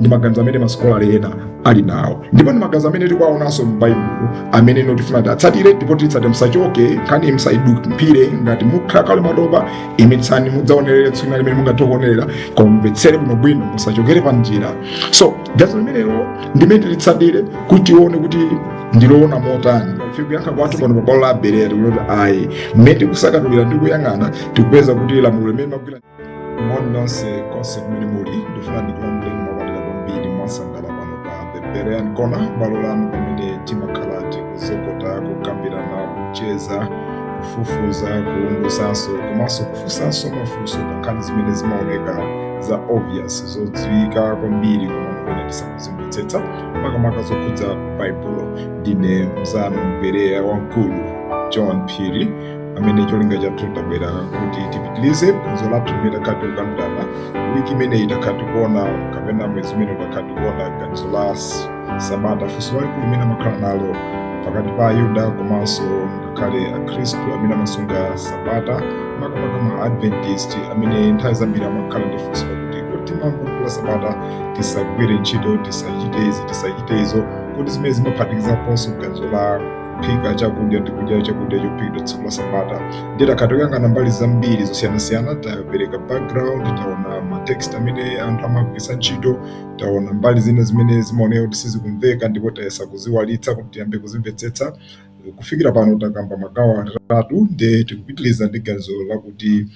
ndi maganizo amene masikolala ena ali nawo ndipo ndi maganizo amene tikuwaonanso m'baibulo amene pano tifuna tiatsatire ndipo titsate musachoke nkhani musaidumpire ngati mukhala kuti mwatopa imitsani mudzaonerere tsiku limene mungathe kuonerera koma mumvetsere kuno bwino musachokere pa njira so ganizo limenelo ndilimene tilitsatire kuti tione kuti ndiloona motani ife kuyankha kwathu pano pa bwalo la abereya kuno nkuti ayi mmene tikusakatulira ndi kuyang'ana tikupeza kuti lamulo limene magwira moni nonse konse kumene muli ndifuna ndikulandireni mwapamtima kwambiri mosangalala pano pa the berean kona bwalo lanu pamene timakhala tikuzokota kukambirana kucheza kufufuza kuungusanso komanso kufunsanso mafunso pa nkhani zimene zimaoneka za obvious zodziwika kwambiri koma mumaona tisakuzimvetsetsa makamaka zokhudza baibulo ndine mzanu mbereya wamkulu john phiri amene cholinga chathu tabwera kuti tipitilize phunziro lathu limene takhala tikukambirana wiki imene takhala tikuona kapena mwezi umene takhala tikuona ganizo la sabata funso lalikulu limene amakhala nalo pakati pa ayuda komanso ngakhale akhristu amene amasunga sabata makamaka ma adventist amene nthawi zambiri amakhala ndi funso lakuti kodi tikamasunga sabata tisagwire ntchito tisachite izi tisachite izo kodi zimenezi zimaphatikizaponso ganizo la kuphika chakudya ndi kudya chakudya chophikidwa tsiku la sabata ndiye takhala tikuyang'ana mbali zambiri zosiyanasiyana tapereka background taona matext amene anthu amagwiritsa ntchito taona mbali zina zimene zimaoneka kuti sizikumveka ndipo tayesa kuziwalitsa kuti tiyambe kuzimvetsetsa kufikira pano takamba magawo atatu nde tikupitiriza ndi ganizo lakuti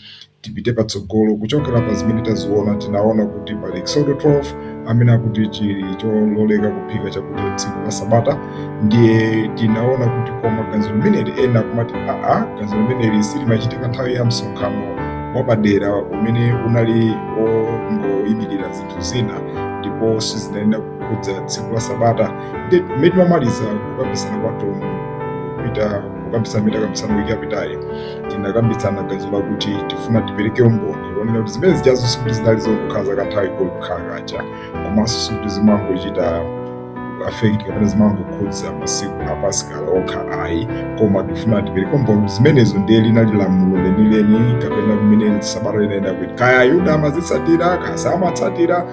tipite patsogolo kuchokera pa zimene taziona tinaona kuti pali exodo 12 amene akuti chili chololeka kuphika chakudya tsiku la sabata ndiye tinaona kuti koma ganizo limeneli ena akumati aa ganizo limeneli si limachitika nthawi ya msonkhano wapadera umene unali ongoyimirira zinthu zina ndipo sizinayenera kukhudza tsiku la sabata ndi mmene timamaliza kukambisana kwathu kupitako kukambisana mmene takambisana wiki yapitayi tinakambitsana ganizo lakuti tifuna tipereke umboni wonena kuti zimene zijazo sikuti zinali zongokhala zakanthawi kokha kaja komanso sikuti zimangochita affect kapena zimangokhudza masiku a pasika okha ayi koma tifuna tipereke umboni kuti zimenezo ndiye linali lamulo lenileni kapena mmene sabata linayenera kuti kaya ayuda amazitsatira kaya samatsatira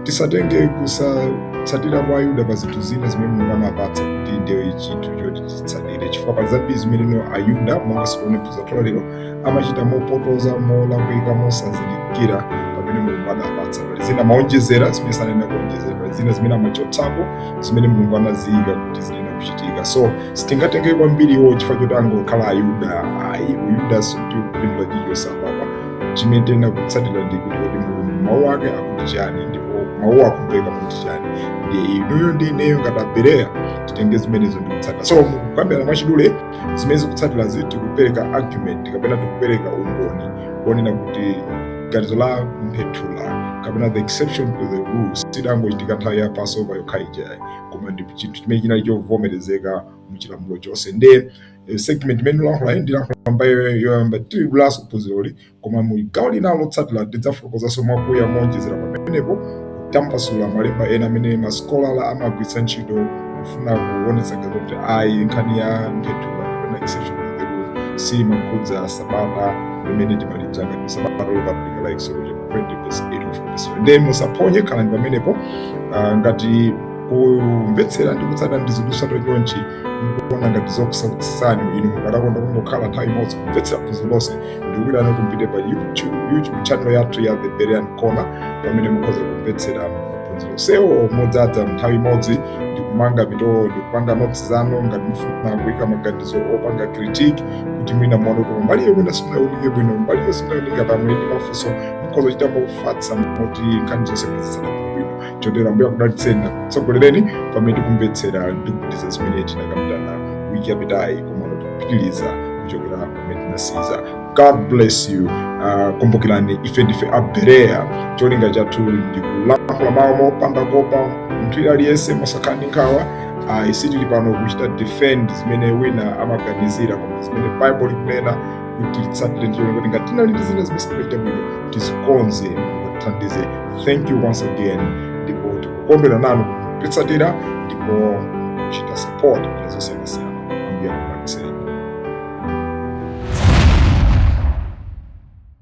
tisatenge kusatsatira kwa ayuda pa zinthu zina zimene mulungu anawapatsa kuti ndiye chinthu choti zitsalire chifukwa pali zambiri zimene ayuda monga si onse mphunziro la lero amachita mopotoza molakwika mosazindikira zimene mulungu adawapatsa pali zina amaonjezera zimene samayenera kuonjezera pali zina zimene amachotsapo zimene mulungu anaziyika kuti ziyenera kuchitika so sitingatengere kwambiri iwo chifukwa choti angokhala ayuda ayi chiyuda sitikulimbula chinthu apa chimene tiyenera kutsatira ndi kuti kuti mulungu mawu ake akuti chani ndipo mawu akumveka kuti chani ndi inuyo ndi ineyo ngati abereya titenge zimenezo ndikutsatira so mukukambirana mwachidule zimene zikutsatirazi tikupereka argument kapena tikupereka umboni wonena kuti ganizo la mphethula kapena the exception to the rule sidangochitika nthawi ya passover yokha ija koma ndi chinthu chimene chinali chovomerezeka muchilamulo chonse nde eh, segment imene ndilankhulayi ndilankhula mbali yoyamba ya phunziroli Koma mu gawo linalo lotsatira ndidzafotokozanso mwakuya mowonjezera pamenepo kutambasula malemba ena amene masikolazi amagwiritsa ntchito kufuna kuonetsa ngati kuti ayi nkhani ya mphethula kapena exceptional mphethula siyimakhudza sabata limene timalidziwa ngati sabata lopatulika la Exodo chapter 20 verse 8 of verse 7. Ndiye musaphonye khalani pamenepo ah, ngati kumvetsera ndi kutsata ndi zinthu zotsatira chonchi mukuona ngati zokusautsani inu mukadakonda kungokhala nthawi imodzi kumvetsera phunziro lonse ndikuuzeni kuti mupite pa youtube youtube channel yathu ya the berean corner pamene mukhoza kumvetsera maphunziro onsewo modzadza nthawi imodzi ndikumanga mitolo ndikupanga notes zanu ngati mufuna kuyika maganizo opanga critique kuti mwina muone kuti mbali iyo mwina simunaonike bwino mbali iyo simunaonike mwina muli ndi mafunso mukhoza kuchita mofatsa moti nkhani zonse kuzisanthula bwino chotero ambuye akudalitseni nakutsogolereni pamene tikumvetsera ndikupitiza zimene tinakambirana wiki yapitayi komano tikupitiliza kuchokera tinasiza god bless you uh, kumbukirani ife ndife abereya cholinga chathu ndi kulankhula mawu mopanda kuopa munthu wina aliyense mosakhala ndi nkhawa ayi sitili pano kuchita defend zimene wina amaganizira koma zimene bible likunena kuti titsatire ndiye kuti ngati tinali ndi zina zimene sitimachita bwino tizikonze atithandize thank you once again ndipo tikukondwera nanu kutitsatira ndipo kuchita support kuti zosiyanasiyana ambuye akupangitseni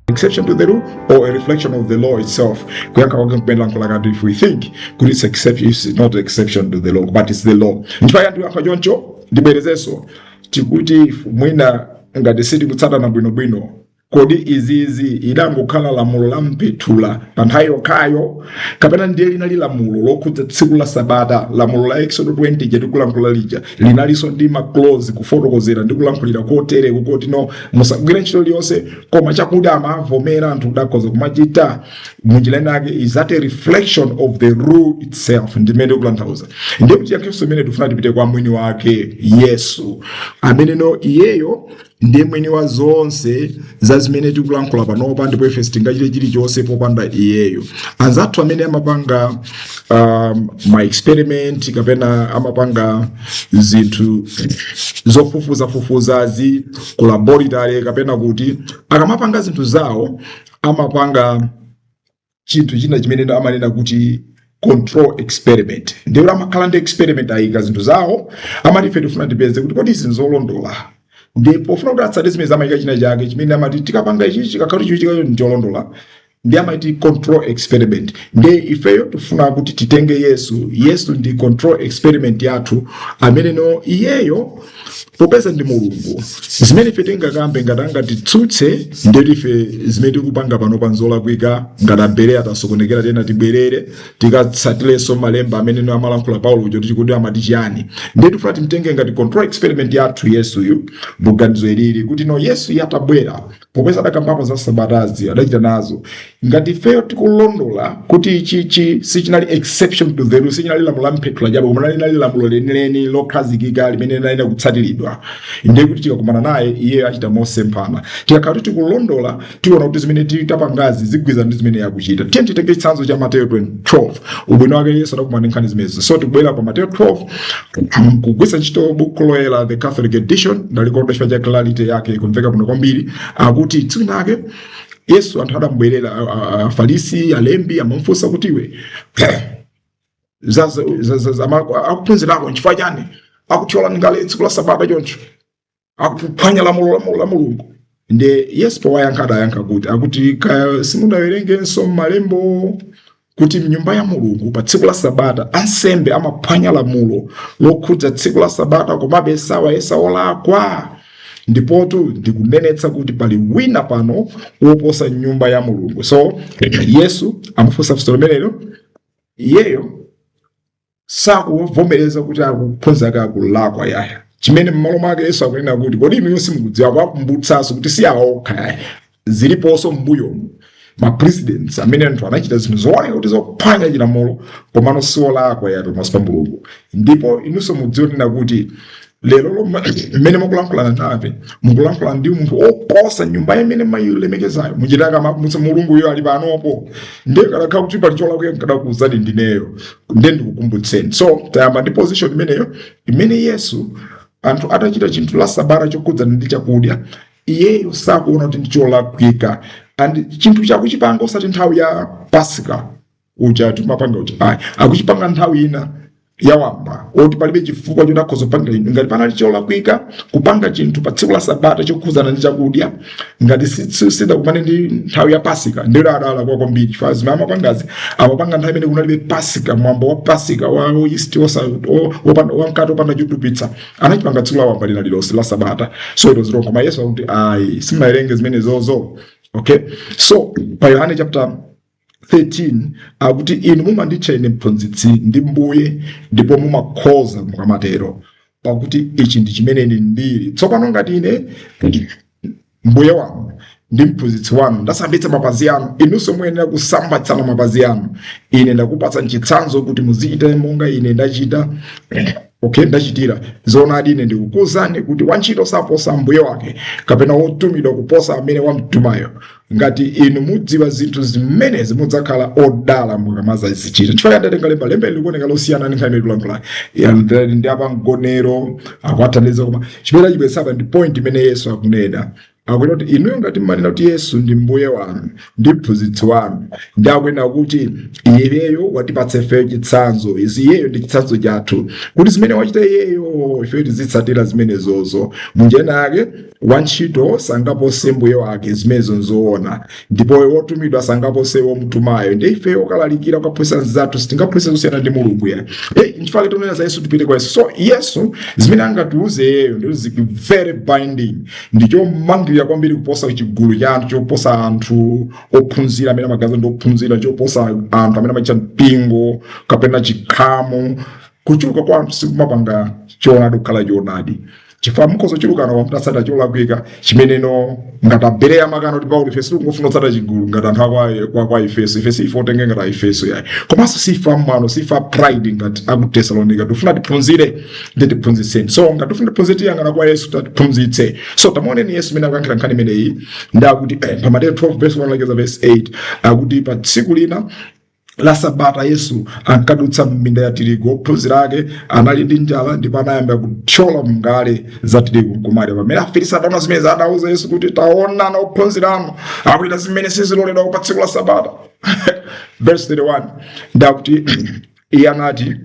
exception to the rule or a reflection of the law itself kuyankha kwake kupendera nkhola kuti if we think kuti it's exception it's not exception to the law but it's the law nchifukwa chake ndikuyankha choncho ndibwerezenso tikuti mwina ngati sitikutsatana bwinobwino Kodi izizi idangokhala lamulo la mpethula pa nthawi yokhayo kapena ndiye linali lamulo lokhudza tsiku la sabata lamulo la exodo 20 lija tikulankhula lija linalinso ndi maclose kufotokozera ndi kulankhulira kotere kukuti no musagwire ntchito liyonse koma chakuti amavomera anthu kudakhoza kumachita munjira inake is that a reflection of the rule itself ndimene zikutanthauza ndiye kuti yakhristu imene tifuna tipite kwa mwini wake yesu amene no iyeyo ndiye mwini wa zonse za zimene tikulankhula panopa ndipo ife sitingachite chilichonse popanda iyeyo anzathu amene amapanga um, ma experiment kapena amapanga zinthu zofufuzafufuzazi ku laboratory kapena kuti akamapanga zinthu zawo amapanga chinthu china chimene amanena kuti control experiment ndekuti amakhala ndi experiment ayika zinthu zawo amati ife tifuna tipeze kuti kodi izi nzolondola ndiye pofuna kuti atsate zimene zamachitika china chake chimene amati tikapanga ichi chikakhala kuti chikuchitikacho ndicholondola ndiye amati control experiment nde ifeyo tifuna kuti titenge yesu yesu ndi control experiment yathu ameneno iyeyo popeza ndi mulungu zimene ife tingakambe ngati angatitsutse ndekuti ife zimene tikupanga panopa nzolakwika ngati abere atasokonekera tena tibwerere tikatsatilenso malemba amene no amalankhula paulo uja kuti kodi amati chiyani nde tifuna timtenge ngati control experiment yathu yesuyu maganizo ilili kuti no yesuyu atabwera popeza adakambapo za sabatazi adachita nazo ngati ifeyo tikulondola kuti ichichi sichinali exception to the rule sichinali lamulo la mpethula chabe koma linali lamulo lenileni lokhazikika limene linayenera kutsatiridwa ndiye kuti tikakumana naye iyeyo achita mosemphana tikakhala kuti tikulondola tiona kuti zimene tapangazi zigwirizana ndi zimene akuchita tiyeni titenge chitsanzo cha mateyo 12 ubwino wake yesu adakumana ndi nkhani zimenezi so tikubwerera pa mateyo 12 mm, kugwiritsa ntchito buku loyera the catholic edition ndalikonda chifukwa cha clarity yake ikumveka bwino kwambiri akuti tsiku linalake yesu anthu adamubwerera a- a- afarisi alembi amamufunsa kuti iwe za- za- za- za- za- ama- akuphunzira ako nchifukwa chani akuthyola ngala tsiku la sabata choncho akuphwanya lamulo lamulo la mulungu nde yesu powayankha adayankha kuti akuti kodi simudawerengenso m'malembo kuti mnyumba ya mulungu pa tsiku la sabata ansembe amaphwanya lamulo lokhudza tsiku la sabata komabe sawayesa olakwa ndipotu ndikunenetsa kuti pali wina pano woposa nyumba ya mulungu so yesu amafunsa funso limenelo iyeyo sakuvomereza kuti akuphunzira ake akulakwa yaya chimene m'malo mwake yesu akunena kuti kodi inuyo simukudziwa kuwakumbutsanso kuti si awo okha yaya ziliponso m'mbuyomu ma precedents amene anthu anachita zinthu zooneka kuti zophwanya chilamulo komano siolakwa yaya pamaso pa mulungu ndipo inunso mudziwa kuti lero lomwe mmene mukulankhulana nafe mukulankhulana ndi munthu oposa nyumba imene mayilemekezayo muchita kumakumbutsa mulunguyo ali panopo ndiye kadakhala kuti pali cholakwika nkadakuuzani ndineyo nde ndikukumbutseni so tayamba ndi position imeneyo imene yesu anthu atachita chinthu la sabata chokhudzana ndi chakudya iyeyo sakuona kuti ndi cholakwika and chinthu chake akuchipanga osati nthawi ya pasika uja timapanga uja ayi akuchipanga nthawi ina yawamba oti palibe chifukwa choti akhoza kupanga inu ngati panali cholakwika kupanga chinthu pa tsiku la sabata chokhudzana ndi chakudya ngati si- si- sidakumane ndi nthawi ya pasika ndiye adalakwa kwambiri chifukwa zimene amapangazi amapanga nthawi imene kunalibe pasika mwambo wa pasika wa oyisti wa mkate opanda chotupitsa anachipanga tsiku lawamba lina lilonse la sabata so it was wrong koma yesu akuti ayi simunawerenge zimenezozo okay so pa yohane chapter 13 akuti inu mumanditcha ine mphunzitsi ndi mbuye ndipo mumakhoza mukamatero pakuti ichi ndi chimene ine ndili tsopano ngati ine mbuye wanu ndi mphunzitsi wanu ndasambitsa mapazi anu inunso muyenera kusambitsana mapazi anu ine ndakupatsani chitsanzo kuti muzichita monga ine ndachita okay ndachitira zoonadi ine ndikukuuzani kuti wantchito saposa mbuye wake kapena wotumidwa kuposa amene wamtumayo ngati inu mudziwa zinthu zimenezi mudzakhala odala mukamazazichita nchifukwa ndatenga lemba lemba ili likuoneka losiyana ndi nkhani ikulankhula ndi ya pa mgonero akwathandiza koma chimene tipeza apa ndi point imene yesu akunena akunena kuti inuyo ngati mmanena kuti yesu ndi mbuye wanu ndi mphunzitsi wanu ndiye akunena kuti iyeyo watipatsa ifeyo chitsanzo izi iyeyo ndi chitsanzo chathu kuti zimene wachita iyeyo ifeyo tizitsatira zimenezozo munjira yake wantchito sangapose mbuye wake zimenezo nzoona ndipo wotumidwa sangapose womutumayo ndiye ife okalalikira kukaphunzitsa anzathu sitingaphunzitse zosiyana ndi mulungu ya hey, nchifukwa tikunena za yesu tipite kwa yesu so yesu zimene angatiuze iyeyo ndizo zili very binding ndi chomangirira kwambiri kuposa chigulu cha anthu choposa anthu ophunzira amene amaganiza ndi ophunzira choposa anthu amene amachita mpingo kapena chikhamu kuchuluka kwa anthu sikumapanga choonadi kukhala choonadi chifukwa mukhoza kuchulukana koma mutatsata cholakwika chimene no ngati a bereya amakana kuti paulo ife sitikungofuna kutsata chigulu ngati anthu akwa- kwa kwa efeso ife si ife otengeka ngati aefeso yayi komanso si ife amwano si ife a pride ngati aku tesalonika tifuna tiphunzire ndiye tiphunzitseni so ngati tifuna tiphunzire tiyang'ana kwa yesu atiphunzitse so tamuoneni yesu mmene akuyankhira nkhani imeneyi ndiye akuti eh, pa mateyo 12 verse 1 kulekeza verse 8 akuti pa tsiku lina la sabata yesu ankadutsa m'minda ya tirigu ophunzira ake anali ndi njala ndipo anayamba kuthyola mngale za tirigu nkumadya pamene afarisi ataona zimenezi anauza yesu kuti taonani ophunzira anu akuchita zimene siziloledwa pa tsiku la sabata verse 3 ndiye akuti iye anati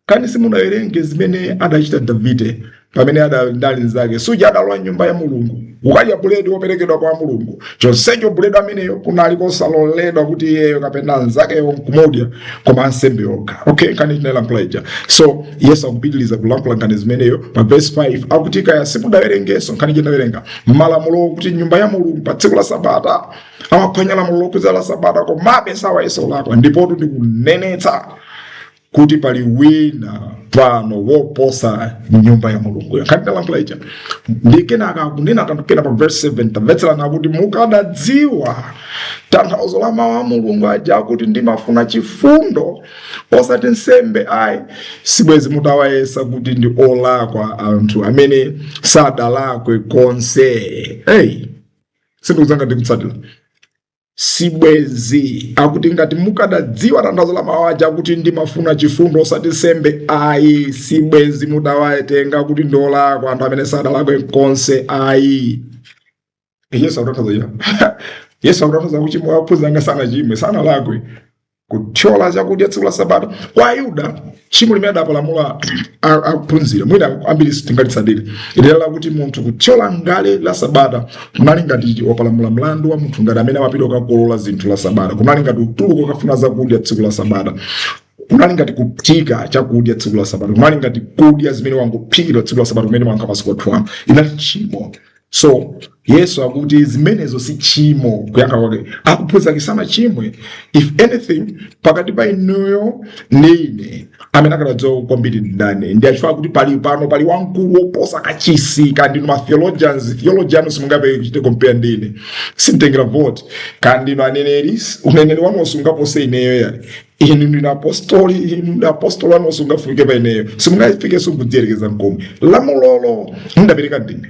kani simunawerenge zimene adachita davide pamene adali ndi anzake suja adalowa m'nyumba ya mulungu kukadya buledi woperekedwa kwa mulungu chonsecho buledi ameneyo kunali kosaloledwa kuti iyeyo kapena anzakewo nkumudya koma ansembe okha okay nkhani tinayilankhula ija so yesu akupitiliza kulankhula nkhani zimeneyo pa verse 5 akuti kani simudawerengenso kani simunawerenge m'malamulo kuti m'nyumba ya mulungu pa tsiku la sabata amaphwanya lamulo lokhudza la sabata komabe sawayesa olakwa ndipotu ndikunenetsa kuti pali wina pano woposa nyumba ya mulunguyo nkhani tidalankhula ija ndi kenaka akunena kanthu kena pa verse 7 tamvetserani akuti mukadadziwa tanthauzo la mawu a mulungu aja akuti ndimafuna chifundo osati nsembe ayi sibwezi mutawayesa kuti ndi olakwa anthu amene sadalakwe konse hey sindikudziwa ngati tikutsatira sibwenzi akuti ngati mukadadziwa tanthauzo la mawu aja kuti ndimafuna chifundo osati nsembe ayi sibwenzi mutawatenga kuti ndiolakwa anthu amene sadalakwe konse ayi yesu akutanthauza yesu akutanthauza kuchimwa ophunzira anga sanachimwe sanalakwe kuthyola chakudya tsiku la sabata kwa ayuda tchimo limene adapalamula a- ophunzira mwina ambiri sitingalitsatire lero lakuti munthu kuthyola ngale la sabata kunali ngati wapalamula mlandu wa munthu ngati amene amapita kukakolola zinthu la sabata kunali ngati utuluka ukafuna chakudya tsiku la sabata kunali ngati kuphika chakudya tsiku la sabata kunali ngati kudya zimene zangophikidwa tsiku la sabata kumene mwanka masiku athu ano inali tchimo so yesu akuti zimenezo si tchimo kuyankha kwake akuphunzitsa kuti sanachimwe if anything pakati pa inuyo ndi ine amene akudziwa kwambiri ndani ndiye chifukwa kuti pali pano pali wamkulu woposa kachisi kaya ndinu ma theologians theology yanu simungathe kuchita compare ndi ine simtengera vote kaya ndinu aneneri uneneri wanu sungapose ineyo ayi inu ndinu apostoli inu utumwi wanu sungafike pa ineyo simungafikenso kudziyerekeza nkomwe lamulolo ndapereka ndine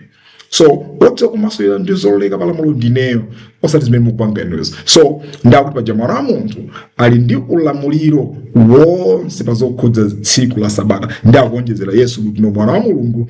so wotha kumasulira ndi zololeka pa lamulo ndineyo osati zimene mukupanga inuzo so ndakuti paja mwana wa munthu ali ndi ulamuliro wonse pa zokhudza tsiku la sabata ndi akuonjezera yesu kuti no mwana wa mulungu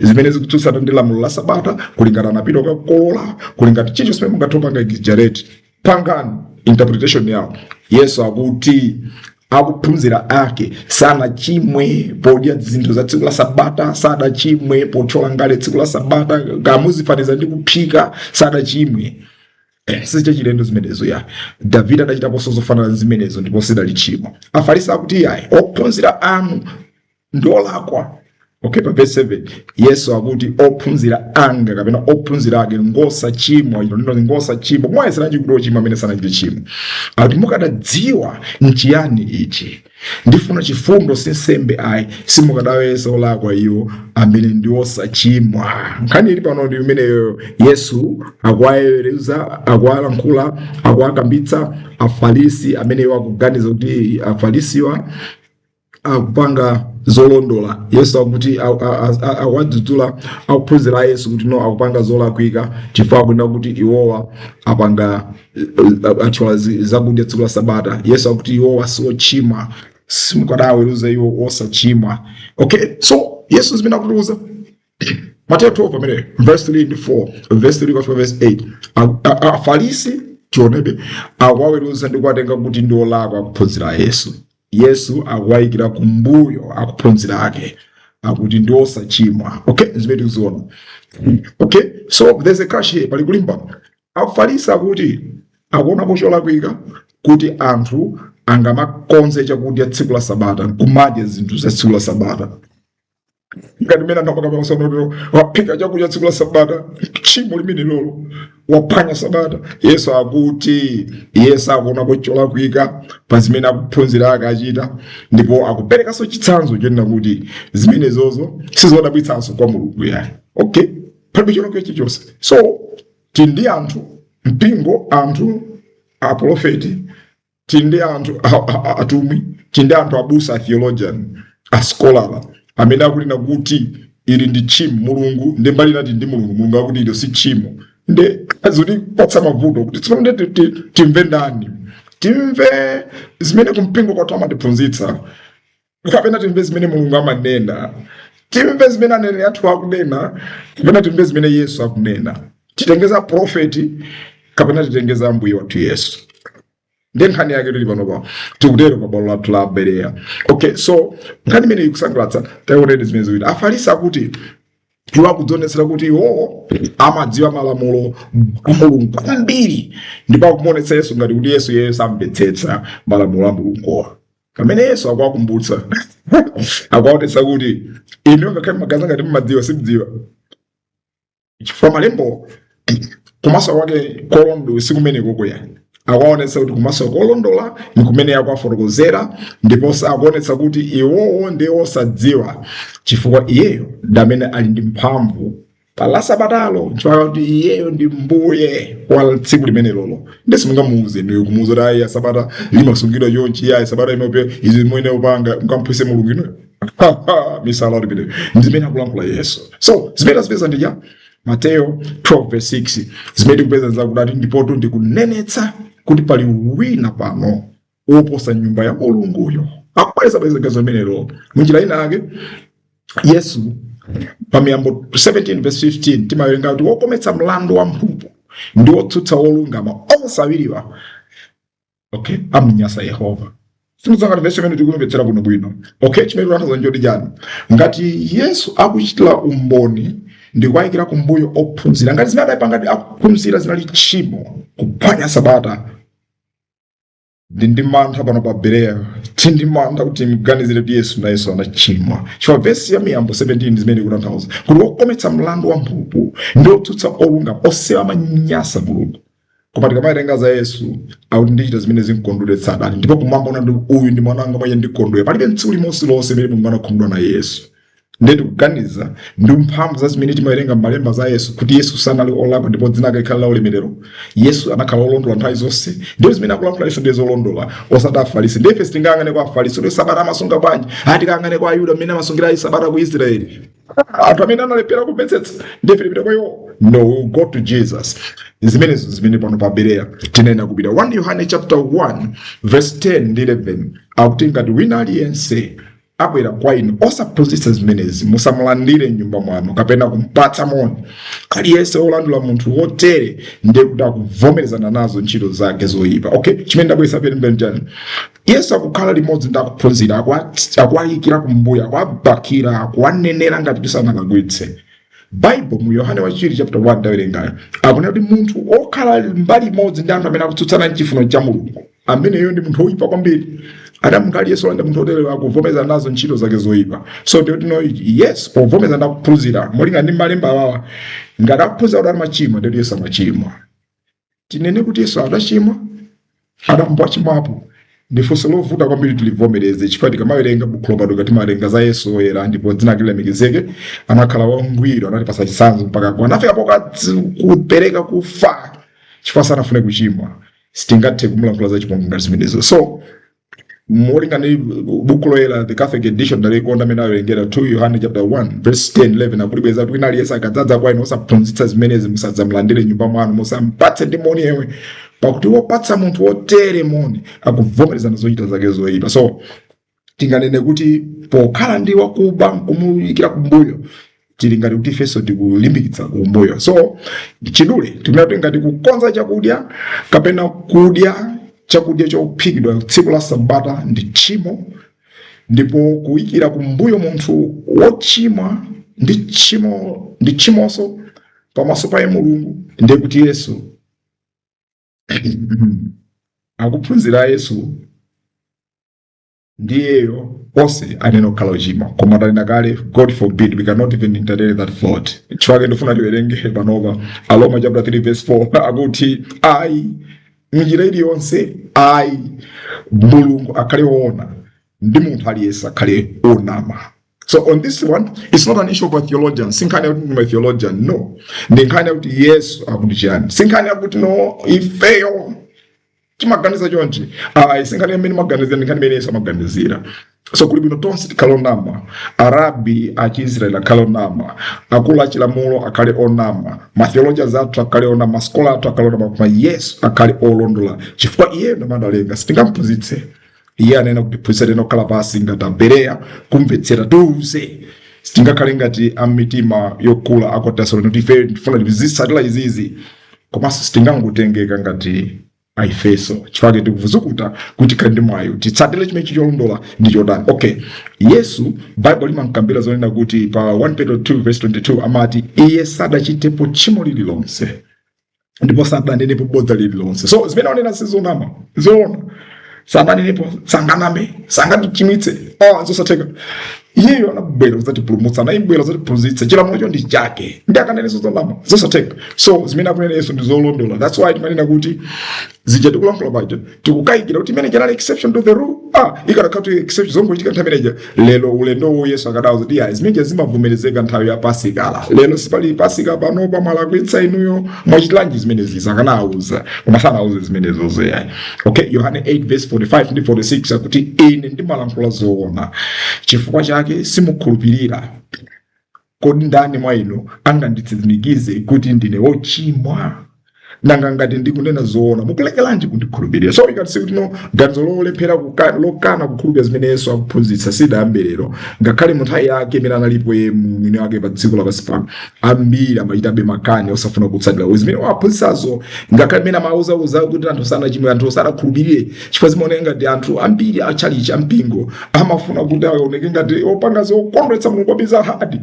zimene zikutsutsana ndi lamulo la sabata kulingana anapita kukakolola kulingana chicho simene mungathe kupanga exaggerate pangani interpretation yawo yesu akuti akuphunzira ake sanachimwe podya zinthu za tsiku la sabata sadachimwe pothyola ngale tsiku la sabata kamuzifaniza ndi kuphika sadachimwe Eh, sizachilendo zimenezo ayi davide adachitaponso zofanana ndi zimenezo ndipo sidali tchimo afarisi akuti ayi ophunzira anu ndi olakwa okay pa verse 7 yesu akuti ophunzira anga kapena ophunzira ake ngosachimwa ino lino ngosachimwa mwayeseranji kuti ochimwa amene sanachite chimo akuti mukadadziwa nchiyani ichi ndifuna chifundo si nsembe ayi simukadawayesa olakwa iwo amene ndi osachimwa nkhani ili pano ndi imeneyo yesu akuwaweruza akuwalankhula akuwakambitsa afarisi amene iwo akuganiza kuti afarisiwa akupanga zolondola yesu akuti a- a- a- a- awadzudzula akuphunzira a yesu kuti no akupanga zolakwika chifukwa akunena kuti iwowa apanga eh, eh, atchola zi- zakudya tsiku la sabata yesu akuti iwowa siochimwa simukadaweruza iwo osachimwa okay so yesu zimene akutiuza Mateyu 12 pamene verse 3 ndi 4 verse 3 kufika verse 8 A- a- a- afarisi tionebe akuwaweruza ndi kuwatenga kuti ndi olakwa akuphunzira a yesu yesu akuwayikira kumbuyo akuphunzira ake akuti ndi osachimwa okay zimene tikuziona okay so there's a clash here pali kulimbana afarisi akuti akuonapo cholakwika kuti anthu angamakonze chakudya tsiku la sabata nkumadya zinthu za tsiku la sabata ngati mmene anapanga pamasanaotero waphika chakudya tsiku la sabata tchimo limenelolo waphwanya sabata yesu akuti iye sakuonapo cholakwika pa zimene akuphunzira ake achita ndipo akuperekanso chitsanzo chonena kuti zimenezozo sizodabwitsanso kwa mulungu yayi okay palibe cholakwika chilichonse so tili ndi anthu mpingo anthu apolofeti tili ndi anthu atumwi tili ndi anthu abusa a theologian a scholar amene akunena kuti ili ndi tchimo mulungu nde mbali ina tili ndi mulungu mulungu akuti ilo si tchimo nde zotipatsa mavuto kuti tsopano nde ti- ti- timve ndani timve zimene kumpingo kwathu amatiphunzitsa kapena timve zimene mulungu amanena timve zimene aneneri athu akunena kapena timve zimene yesu akunena titenge za profeti kapena titenge za ambuye wathu yesu nde nkhani yake tili panopa tikutero pa bwalo lathu la bereya okay so nkhani imeneyi ikusangalatsa taionedi zimene ziwiri afarisi akuti iwo akudzionetsera kuti iwowo amadziwa malamulo a mulungu kwambiri ndipo akumuonetsa yesu ngati kuti yesuyo samvetsetsa malamulo a mulunguwa pamene yesu akuwakumbutsa akuwaonetsa kuti inu ngakhale mmaganiza ngati mmadziwa simdziwa chifukwa malembo kumasula kwake kolondola si kumenekoko yayi akuwaonetsa kuti kumasula kolondola ndi kumene akuwafotokozera ndiponso akuonetsa kuti iwowo ndi osadziwa chifukwa iyeyo ndi amene ali ndi mphamvu pa la sabatalo nchifukwa kuti iyeyo ndi mbuye wa tsiku limenelolo ndiye simungamuuze ndi kumuuza kuti ayi sabata limasungidwa chonchi ayi sabata imepe izi mwene upanga mkamphwise mulungu ino misala kuti pite ndi zimene akulankhula yesu so zimene tazipeza ndija mateyo 12 verse 6 zimene tikupeza zakuti adati ndipotu ndikunenetsa kuti pali wina pano oposa nyumba ya mulunguyo akubwereza bwereza zimenezo munjira ina yake yesu pa miyambo 17 verse 15 timawerenga kuti wokometsa mlandu wa mphulupulu ndi wotsutsa wolungama onse awiriwa okay amnyansa yehova sindidziwa ngati vesi imene tikumvetsera bwino bwino okay chimene tikutanthauza n'choti chani ngati yesu akuchitira umboni ndi kuwayikira kumbuyo ophunzira ngati zimene adapanga ngati akuphunzira zinali tchimo kuphwanya sabata ndili ndi mantha pano pa bereya tili ndi mantha kuti mganizire kuti yesu nayenso anachimwa chifukwa vesi ya miyambo 17 zimene ikutanthauza kuti wokometsa mlandu wa mphulupulu ndi wotsutsa olungama onsewa amanyansa mulungu koma tikamawerenga za yesu akuti ndichita zimene zimkondweretsa atate ndipo kumwamba kunati uyu ndi mwana wanga mwa iye ndikondwera palibe tsiku limodzi lonse limene mulungu anakhumudwa na yesu ndiye tikuganiza ndi mphamvu za zimene timawerenga m'malemba za yesu kuti yesu sanali olakwa ndipo dzina lake likhale la ulemerero yesu anakhala olondola nthawi zonse ndipo zimene akulankhula yesu ndiye zolondola osati afarisi ndiye ife sitingayang'ane kwa afarisi kuti sabata amasunga bwanji ayi tikayang'ane kwa ayuda mmene amasungira ayi sabata ku israeli anthu amene analephera kumvetsetsa ndiye ife tipita kwa iwo no we go to jesus zimenezo zimene pano pa bereya tinena kupita 1 yohane chapter 1 verse 10 ndi 11 akuti ngati wina aliyense abwera kwa inu osaphunzitsa zimenezi musamulandire m'nyumba mwanu kapena kumpatsa moni aliyense wolandira munthu wotere ndiye kuti akuvomerezana nazo ntchito zake zoyipa okay chimene ndabweretsa pemphero chani yesu akukhala limodzi ndi akuphunzira akuwa- akuwayikira kumbuyo akuwabakira akuwanenera ngati sanalakwitse baibulo mu yohane wachiwiri chapter 1 ndawerengayo akunena kuti munthu okhala mbali imodzi ndi anthu amene akutsutsana ndi chifuniro cha mulungu ameneyo ndi munthu woyipa kwambiri adati munthu aliyense olandira munthu oterewa akuvomereza nazo ntchito zake zoyipa so do you know it? yesu povomereza ndi akuphunzira molinga ndi malemba awawa ngati akuphunzira kuti amachimwa ndiye kuti yesu amachimwa tinene kuti yesu adachimwa adambo achimwapo ndi funso lovuta kwambiri tilivomereze chifukwa tikamawerenga bukhu lopatulika timawerenga za yesu oyera ndipo dzina lake lilemekezeke anakhala wangwiro anatipatsa chitsanzo mpaka kwa anafika poka kupereka kufa chifukwa sanafune kuchimwa sitingathe kumulankhula za chipongwe ngati zimenezo so molingana ndi buku loyera the catholic edition ndalikonda mmene awerengera 2 yohane chapter 1 verse 10 11 akulibwereza kuti wina aliyense akadzadza kwa inu osaphunzitsa zimenezi musadzamulandire m'nyumba mwanu musampatse ndi moni yemwe pakuti wopatsa munthu wotere moni akuvomerezana zochita zake zoyipa so tinganene kuti pokhala ndi wakuba nkumuikira kumbuyo tili ngati kuti ifenso tikulimbikitsa kumbuyo so mwachidule tikunena kuti ngati kukonza chakudya kapena kudya chakudya chophikidwa tsiku la sabata ndi tchimo ndipo kuikira kumbuyo munthu wochimwa ndi tchimo ndi tchimonso pamaso pa Mulungu ndiye kuti yesu akuphunzira a yesu ndi iyeyo onse anayenera kukhala ochimwa koma ndanena kale god forbid we cannot even entertain that thought chifukwa chake ndifuna tiwerenge panopa aroma chapter 3 verse 4 akuti ayi m'njira iliyonse ayi mulungu akhale woona ndi munthu aliyense akhale onama So on this one, it's not an issue of a theologian. Sinkhani yakuti ndine theologian. No. Ndi nkhani yakuti Yesu akuti chiyani. Sinkhani yakuti no ifeyo timaganiza chonchi. Ayi sinkhani imene timaganizira ndi nkhani imene Yesu amaganizira. So kuli bwino tonse tikhale onama. Arabi a Chiisrael akhale onama. Akulu a chilamulo akhale onama. Ma theologians athu akhale onama. Maskola athu akhale onama. Koma Yesu akhale olondola. Chifukwa iye ndi namalenga. Sitingamphunzitse. iye ayenera kutiphunzitsa tiyenera kukhala pansi ngati abereya kumvetsera tiuze sitingakhale ngati amitima yokula aku tesalonika kuti ife tifuna tizitsatira izizi komanso sitingangotengeka ngati aifeso chifukwa chake tikuzukuta kuti tikhale ndi mwayi titsatire chimene cholondola ndi chotani okay yesu baibulo limamkambira zonena kuti pa 1 petro 2 verse 22 amati iye sadachitepo tchimo lililonse ndipo sananenepo bodza lililonse so zimene akunena sizonama ndi zoona sananenepo sanganame sangatichimitse ah, zosatheka iyeyo anabwera kuzatipulumutsa anabwera kuzatiphunzitsa chilamulocho ndi chake ndiye akanene zozonama zosatheka so zimene akunena yesu ndi zolondola that's why timanena kuti zija tikulankhula paja tikukayikira kuti imene ija inali exception to the rule ah ikadakhala kuti exception zongochitika nthawi imeneja lero ulendo uno yesu akadawauza kuti yayi zimeneja zimavomerezeka nthawi ya pasika lero sipali pasika panopa mwalakwitsa inuyo mwachitilanji zimenezi akanawauza koma sanawauze zimenezozo yayi okay yohane 8 verse 45 ndi 46 akuti ine ndimalankhula zoona chifukwa chake simukhulupirira Kodi ndani mwa inu anganditsimikize kuti ndine wochimwa? Nanga ngati ndikunena zoona, mukulekeranji kundikhulupirira? So we can see kuti no ganizo lolephera kuka- lokana kukhulupirira zimene Yesu akuphunzitsa sidayambe lero. Ngakhale mu nthawi yake imene analipo iye mwini wake pa dziko lapansi pano, ambiri amachitabe makani osafuna kutsatira zimene akuphunzitsazo, ngakhale mmene amawauza kuti anthu sanachimwe, anthu sanakhulupirire chifukwa zimaoneka ngati anthu ambiri a chalichi a mpingo amafuna kuti aoneke ngati opanga zokondweretsa mulungu kwambiri za hadi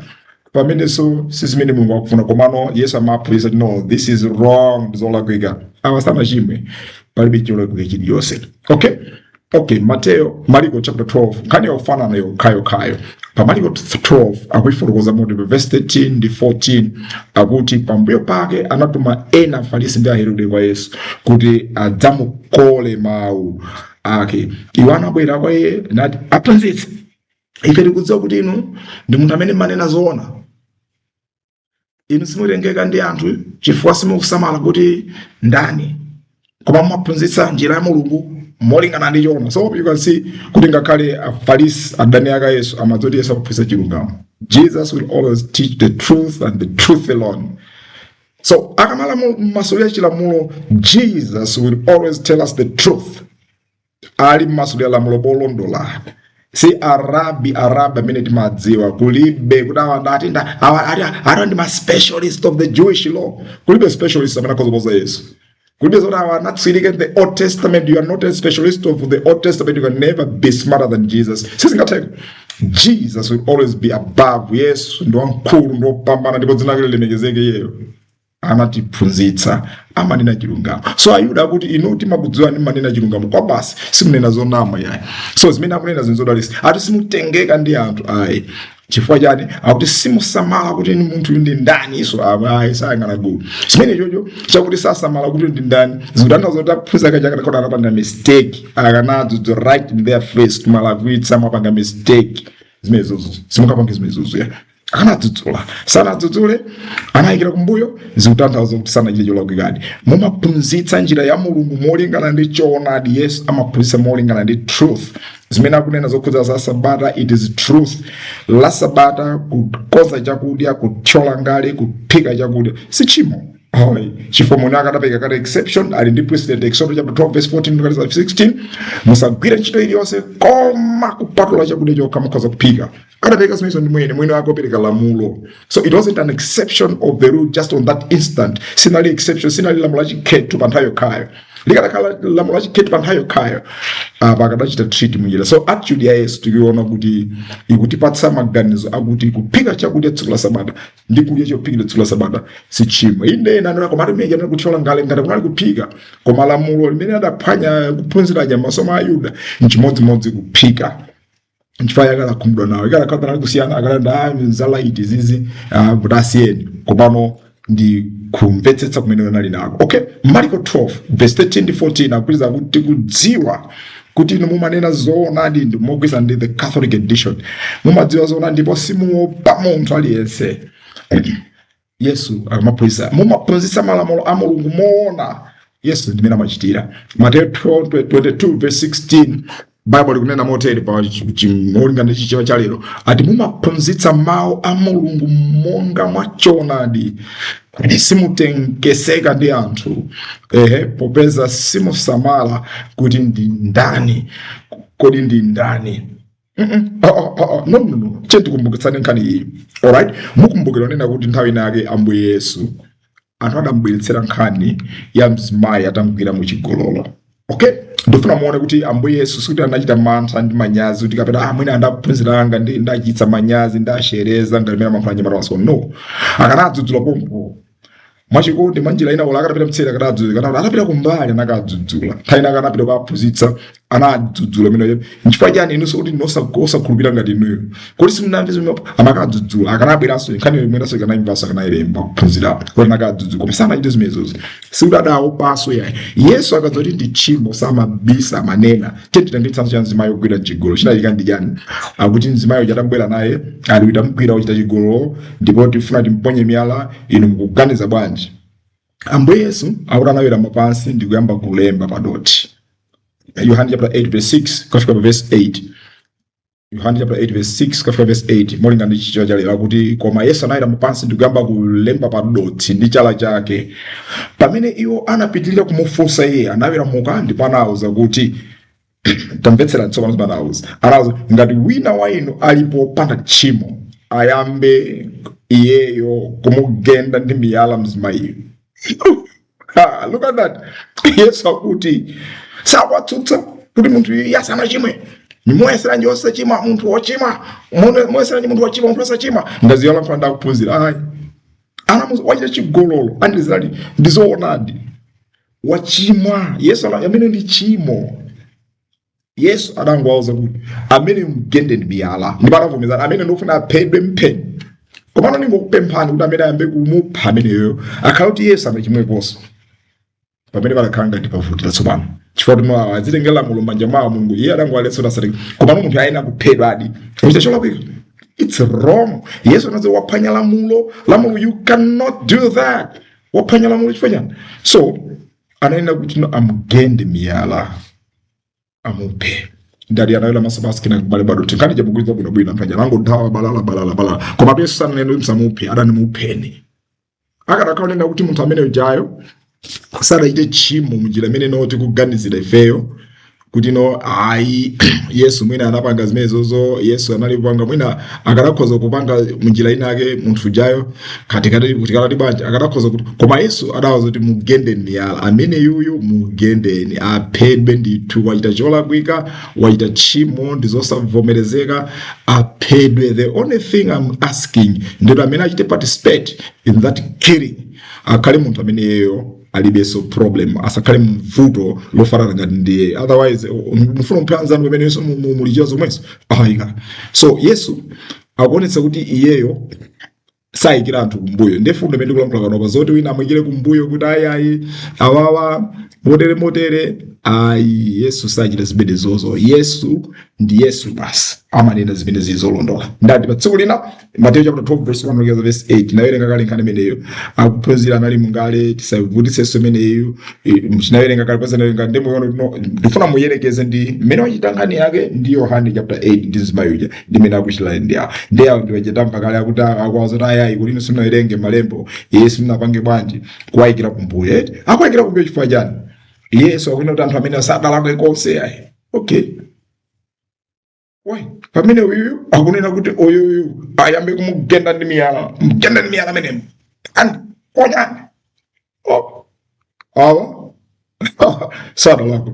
pamene si zimene mulungu akufuna komano yesu amaphunzitsa kuti no this is wrong ndi zolakwika awa sanachimwe palibe cholakwika chilichonse okay okay mateyo mariko chapter 2 nkhani yofanana yokhayokhayo pa Maliko 12 akuifotokoza motere pa verse 13 ndi 14 akuti pambuyo pake anatuma ena afarisi ndi aherode kwa yesu kuti adzamukole mawu ake iwo anabwera kwa iye nati aphunzitsi ife tikudziwa kuti inu ndi munthu amene mmanena zoona inu simutengeka ndi anthu chifukwa simukusamala kuti ndani koma mumaphunzitsa njira ya mulungu molingana ndi choona so you can see kuti ngakhale afarisi adani ake a yesu amadziwa kuti yesu akuphunzitsa chilungamo jesus will always teach the truth and the truth alone so akamamasulira chilamulo jesus will always tell us the truth ali mmasulira lamulo wolondola si arabi arabi amene timadziwa kulibe kuti awa ndati nda- awa ati ati ndi ma specialist of the jewish law kulibe specialist amene akhoza kuposa yesu kulibe zoti awa anatsiriza the old testament you are not a specialist of the old testament you can never be smarter than jesus sizingatheke jesus will always be above yesu ndi wamkulu ndi wopambana ndipo dzina lake lilemekezeke iyeyo anatiphunzitsa amanena chilungamo so ayuda akuti inu timakudziwani mmanena chilungamo kwa basi simunena zonama yayi so zimene akunena zinthu zodalirika ati simutengeka ndi anthu ayi chifukwa chani akuti simusamala kuti ni munthu ndi ndani iso ayi sayang'ana gulu chimenechocho chakuti sasamala kuti ndi ndani zikutanthauza zoti ophunzira akadakhala kuti anapanga mistake akanawauza right in their face kuti mwalakwitsa mwapanga mistake zimenezozo musakapange zimenezozo ya akanadzudzula sanadzudzule anayikira kumbuyo zikutanthauza kuti sanachite cholakwikadi mumaphunzitsa njira ya mulungu molingana ndi choonadi yesu amaphunzitsa molingana ndi truth zimene akunena zokhudza za sabata it is truth la sabata kukonza chakudya kuthyola ngala kuphika chakudya si tchimo Holy. chifukwa munthu akadapereka kale exception ali ndi precedent exodo chapter 12 verse 14 mpaka 16 musagwire ntchito iliyonse koma kupatula chakudya chokha mukhoza kuphika anapereka zimenezo ndi mwini mwini wake opereka lamulo so it wasn't an exception of the rule just on that instance sinali exception sinali lamulo lachikhetho pa nthawi yokhayo likadakhala lamulo lachikhetho pa nthawi yokhayo apa akadachita treat munjira so attitude ya yesu tikuiona kuti ikutipatsa maganizo akuti kuphika chakudya tsiku la sabata ndi kudya chophikira tsiku la sabata si tchimo inde ena anena koma atimeja anena kuthyola ngala ngati sikunali kuphika koma lamulo limene adaphwanya ophunzira aja mmaso mwa ayuda nchimodzimodzi kuphika nchifukwa chake anakhumudwa nawo kukanakhala panali kusiyana akananena "Ah, za light izizi ah, tasiyeni komano ndi kumvetsetsa kumene anali nako okay marko 12 verse 13 ndi 14 akupeza kuti tikudziwa kuti inu mumanena zoonadi mogwirizana ndi the catholic edition mumadziwa zoonadi ndipo simuopa munthu aliyense yesu akamaphunzitsa mumaphunzitsa malamulo a mulungu moona yesu ndimene amachitira mateyo 22:16 baibulo likunena motere molingana ndi chichewa cha lero akuti mumaphunzitsa mawu a mulungu monga mwa choonadi simutengeka ndi anthu ehe popeza simusamala kuti ndi ndani kodi ndi ndani nonono che tikumbukitsane nkhani iyi alright mukumbukira kunena kuti nthawi ina yake ambuye yesu anthu adamubweretsera nkhani ya mzimayi atamugwira mu chigololo okay ndifuna muone kuti ambuye yesu sikuti anachita mantha ndi manyazi kuti kapena ah, mwina ndi aphunzitsi anzanga ndi- ndiwachititsa manyazi ndashereza ngalimera mankhula nyamata waso no akanadzudzula pompo mwachikondi mwanjira ina olo akadapita mtseri akadadzudzula kaya atapita kumbali anakadzudzula nthawi ina akanapita kukaphunzitsa anadzudzula imeneyo nchifukwa chani inunso kuti ndinu osakhulupirira ngati inuyo kuti simunamve zimene amakadzudzula akanabweranso nkhani imeneyonso akanayimvanso akanayilemba kuphunzira kuti anakadzudzula koma samachite zimenezozo sikuti adawaopanso yayi yesu akati ndi tchimo samabisa amanena Tiyeni titenge chitsanzo cha mzimayi wogwidwa m'chigololo. Chinachitika ndi chiyani? Akuti mzimayi uja atamubwera naye, ali tamugwira akuchita chigololo, ndipo tifuna kuti timponye miyala, inu mukuganiza bwanji? Ambuye Yesu akuti anawerama pansi ndi kuyamba kulemba pa dothi. Yohane chapter 8 verse 6 kufika pa verse 8. yohane chapter 8 verse 6 kufika verse 8 molingana ndi chichewa cha lero akuti koma yesu anawerama pansi ndi kuyamba kulemba pa dothi ndi chala chake pamene iwo anapitirira kumufunsa iye anaweramuka ndipo anawauza kuti tamvetsera tsopano zimene anawauza anawauza ngati wina wa inu alipo wopanda tchimo ayambe iyeyo kumugenda ndi miyala mzimayiyo Ha, look at that. Yesu akuti sakuwatsutsa kuti munthuyu sanachimwe ndimoyesera nje osachimwa munthu wochimwa Mone- moyesera nje munthu wochimwa munthu osachimwa ngazi yolankhula ndi akuphunzira ayi anamuuza wachita chigololo andizali ndizoonadi wachimwa yesu ana- amene ndi tchimo yesu adangowauza kuti amene mgende ndi miyala ndipo adavomereza amene ndikufuna aphedwe mpheni komano ndingokupemphani kuti amene ayambe kumupha ameneyo akhale kuti iye sanachimweponso pamene pakakhala ngati pavuti latsopano chifukwa kuti mwawa adzitengera lamulo m'manja mwawo mulungu iye adangowaletsa kuti asatenge komano munthu ayenera kuphedwadi kuchita cholakwika it's wrong yesu anati waphwanya lamulo lamulo you cannot do that waphwanya lamulo chifukwa chani so anayenera kuti no amgende miyala amuphe ndali anawela masabasi kina kubale bado tikani jabu kuyenda bwino bwino banja langa dawa balala balala balala kwa mabe sana neno musamuphe adati mupheni akadakhala akunena kuti munthu amene ujayo sadachite tchimo munjira imene timaganizira ifeyo kuti no ayi yesu mwina anapanga zimenezozo yesu anali kupanga mwina akadakhoza kupanga munjira inake munthu ujayo katikati kutikati banja akadakhoza kuti koma yesu adawauza kuti mugende miyala ameneyuyu mugendeni aphedwe ndithu wachita cholakwika wachita tchimo ndi zosavomerezeka aphedwe the only thing I'm asking ndi kuti amene achite participate in that killing akhale munthu ameneyo alibenso problem asakhale mvuto lofanana ngati ndiye otherwise mufuna mphe mnzanu pamene inunso mukuchita zomwezo ayika so yesu akuonetsa kuti iyeyo saikira anthu kumbuyo ndiye mfundo imene ndikulankhula panopa zoti wina amuikire kumbuyo kuti ayi ayi awawa motere motere ayi yesu sachita zimenezozo yesu ndi yesu basi amanena zimene zili zolondola ndiye pa tsiku lina mateyu chapter 12 verse 1 kufika verse 8 nawerenga kale nkhani imeneyo ophunzira anali mu tisavutitsenso imeneyo tinawerenga kale paja tinawerenga ndi inuyo ndifuna muyerekeze ndi mmene wachita nkhani yake ndi yohane chapter 8 ndi mzimayi uja ndi mmene akuchitira ndi awo ndi awo ndiwe tinamva kale akuti akuwauza kuti ayayi kuti inu simunawerenge malembo iye simunapange bwanji kuwaikira kumbuyo eti akuwaikira kumbuyo chifukwa chani yesu akunena kuti anthu amenewa sadalakwe konse ayi okay Why? pamene uyu akunena kuti uyuyu ayambe kumugenda ndi miyala mugenda ndi miyala ameneyo and konyani oh. awa sadalakwe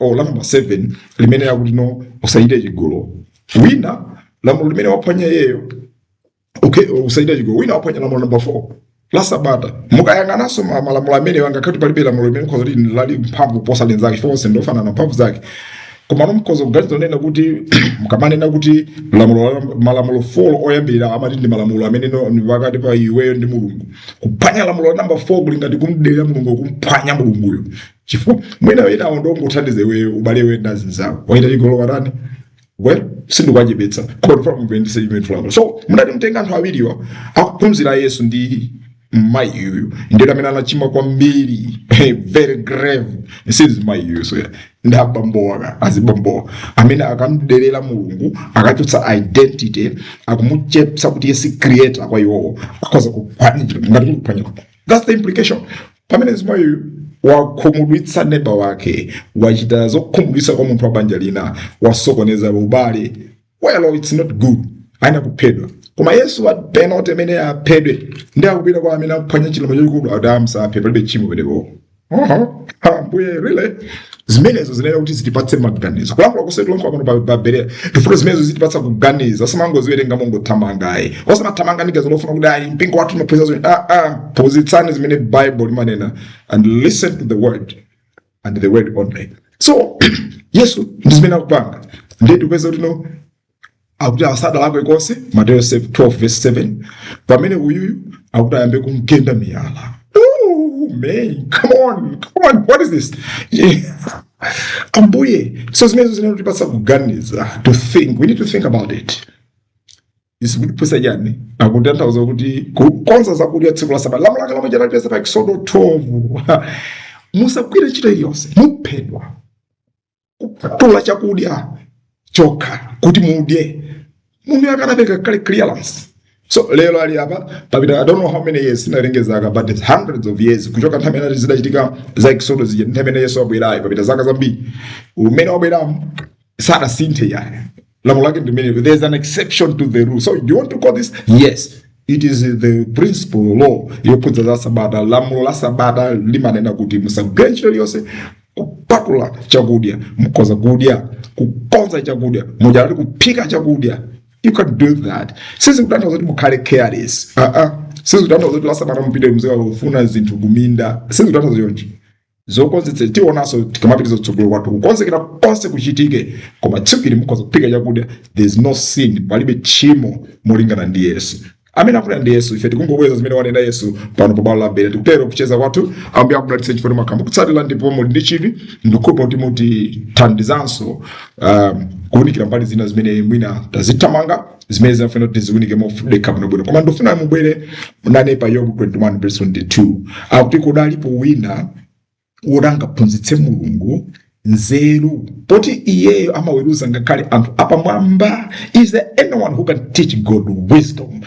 o la namba 7 limene likuti no usachite chigololo ndi lamulo limene waphwanya iyeyo okay usachite chigololo wina waphwanya lamulo namba 4 la sabata mukayang'ananso ma- malamulo amene angakhale palibe lamulo limene mkhoza kuti lali mphamvu kuposa linzake chifukwa onse ndiofanana mphamvu zake koma mukhoza kuganiza nena kuti mukamanena kuti lamulo la- malamulo 4 oyambirira amati ndi malamulo amene no- ndi pakati pa iweyo ndi mulungu kuphwanya lamulo la namba 4 kuli ngati kumdelera mulungu kumphwanya mulunguyo chifukwa mwina enawo ndi ongothandiza iwe ubale iwe ndi azinzako wachita chigololo watani well sindikuwachepetsa confirm kupendisa chimene fulano so mutati mutenge anthu awiriwa akuphunzira a Yesu ndi mayi uyu ndiye amene anachimwa kwambiri very grave si mzimayi uyu so yeah. ndi abambowa azibambowa amene akumdelera mulungu akuchotsa identity akumuchepsa kuti iye si creator kwa iwowo akhoza kuphwanyira ngati kuphwanyira That's the implication. Pamene mzimayiyu wakhumudwitsa neba wake, wachita zokhumudwitsa kwa munthu wa banja lina, wasokoneza ubale, well it's not good, ayenera kuphedwa. Koma Yesu wapena kuti amene aphedwe ndiye akupita kwa amene akuphwanya chilamulo chachikulu akuti musaphe palibe tchimo pamenepo. Aha, ambuye really zimenezo zinayenera kuti zitipatse maganizo kulankhula kuseri tilankhula pano pa- pa berea tifuna zimenezo zitipatsa kuganiza osamangoziwerenga mongothamanga ayi osamathamanga ndi ganizo lofuna kuti ayi mpingo wathu umaphunzitsa zimene ah, ah, phunzitsani zimene bible limanena and listen to the word and the word only so yesu ndi zimene akupanga ndiye tikupeza kuti no akuti asadalakwe konse mateyo 12:7 pamene uyuyu akuti ayambe kumgenda miyala Ooh, man, come on, come on, what is this? Yeah. Ambuye, so zimenezo zinayenera kutipatsa kuganiza to think, we need to think about it. Izi zikutiphunzitsa chani akutanthauza kuti kukonza zakudya tsiku la sabata lamulo lake lomwe talipeza pa Eksodo 12 musagwire ntchito iliyonse muphedwa kupatula chakudya chokha kuti mudye munthuyo anapereka kale clearance so lero ali apa papita i don't know how many years sindinawerenge zaka but it's hundreds of years kuchoka nthawi imene zidachitika za exodus zija nthawi imene yesu wabwerayo papita zaka zambiri mmene wabweramu sadasinthe ayi lamulo lake ndi limenelo there is an exception to the rule so do you want to call this yes it is the principal law yokhudza za sabata lamulo la sabata limanena kuti musagwire ntchito iliyonse kupatula chakudya mukhoza kudya kukonza chakudya mwina tinene kuti kuphika chakudya you can do that sizikutanthauza kuti mukhale careless uh -uh. sizikutanthauza kuti lasabata mupite muzikafunafuna zinthu kuminda sizikutanthauza chonchi zokonzekera tionanso tikamapitiriza kutsogolo kwathu kukonzekera konse kuchitike koma tsiku ili mukhoza kuphika chakudya there is no sin palibe tchimo molingana ndi yesu amene akunena ndi yesu ife tikungobweza zimene wanena yesu pano pa bwalo la berea tikutero kucheza kwathu ambuye akudalitse chifukwa mukhala mukutsatira ndipo muli ndi chidwi ndikukhulupirira kuti mutithandizanso um, kuwunikira mbali zina zimene mwina tazithamanga zimene zimafuna kuti tiziwunike mofatsa bwinobwino koma ndifuna mubwere nane pa yobu 21 verse 22 akuti kodi alipo wina woti angaphunzitse mulungu nzeru poti iyeyo amaweruza ngakhale anthu apamwamba is there anyone who can teach god wisdom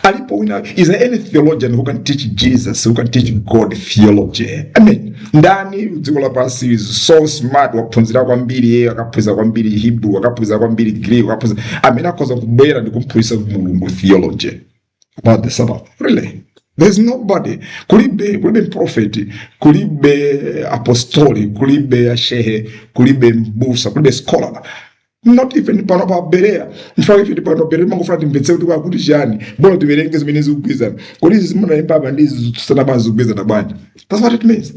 alipo wina is there any theologian who can teach jesus who can teach god theology i mean ndani m'dziko lapansi is so smart waphunzira kwambiri iye akaphunzira kwambiri hebrew akaphunzira kwambiri greek akaphunzira amene akhoza kubwera ndi kumphunzitsa mulungu theology about the sabbath really there's nobody kulibe kulibe mprofeti kulibe apostoli kulibe ashehe kulibe mbusa kulibe scholar not even pano pa berea nchifukwa ife tipano berea timangofuna timvetse kuti akuti chiyani bola tiwerenge zimene zikugwizana kodi izi zimene zanenedwa apa ndi izi zikutsutsana bwanji zikugwizana bwanji that's what it means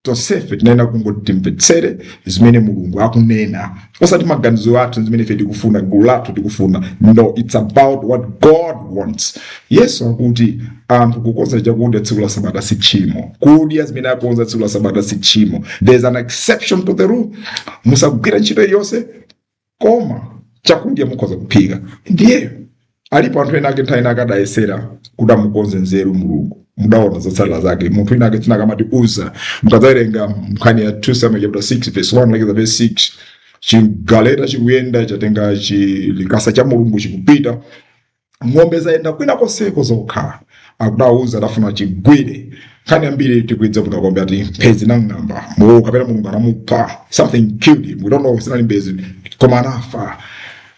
tonsefe tinayenera kungoti timvetsere zimene mulungu akunena osati maganizo athu zimene ife tikufuna gulu lathu likufuna no it's about what god wants yesu akuti anthu kukonza chakudya tsiku la sabata si tchimo kudya zimene akonza tsiku la sabata si tchimo there is an exception to the rule musagwira ntchito iliyonse koma chakudya mukhoza kuphika ndiye alipo anthu ena ake nthawi ina akadayesera kuti amukonze nzeru mulungu mudaona zotsatira zake munthu wina wake dzina lake amati Uza mukadzawerenga nkhani ya 2 samuel chapter 6 verse 1 lekeza verse 6 chigaleta chikuyenda chatenga chilikasa cha mulungu chikupita ng'ombe zayenda kwina konseko zokha akutiuza adafuna achigwire nkhani yambiri tikuidziwa kuti pompo ati mphezi inang'amba mulungu kapena mulungu anamupha something killed him we don't know sinali mphezi koma anafa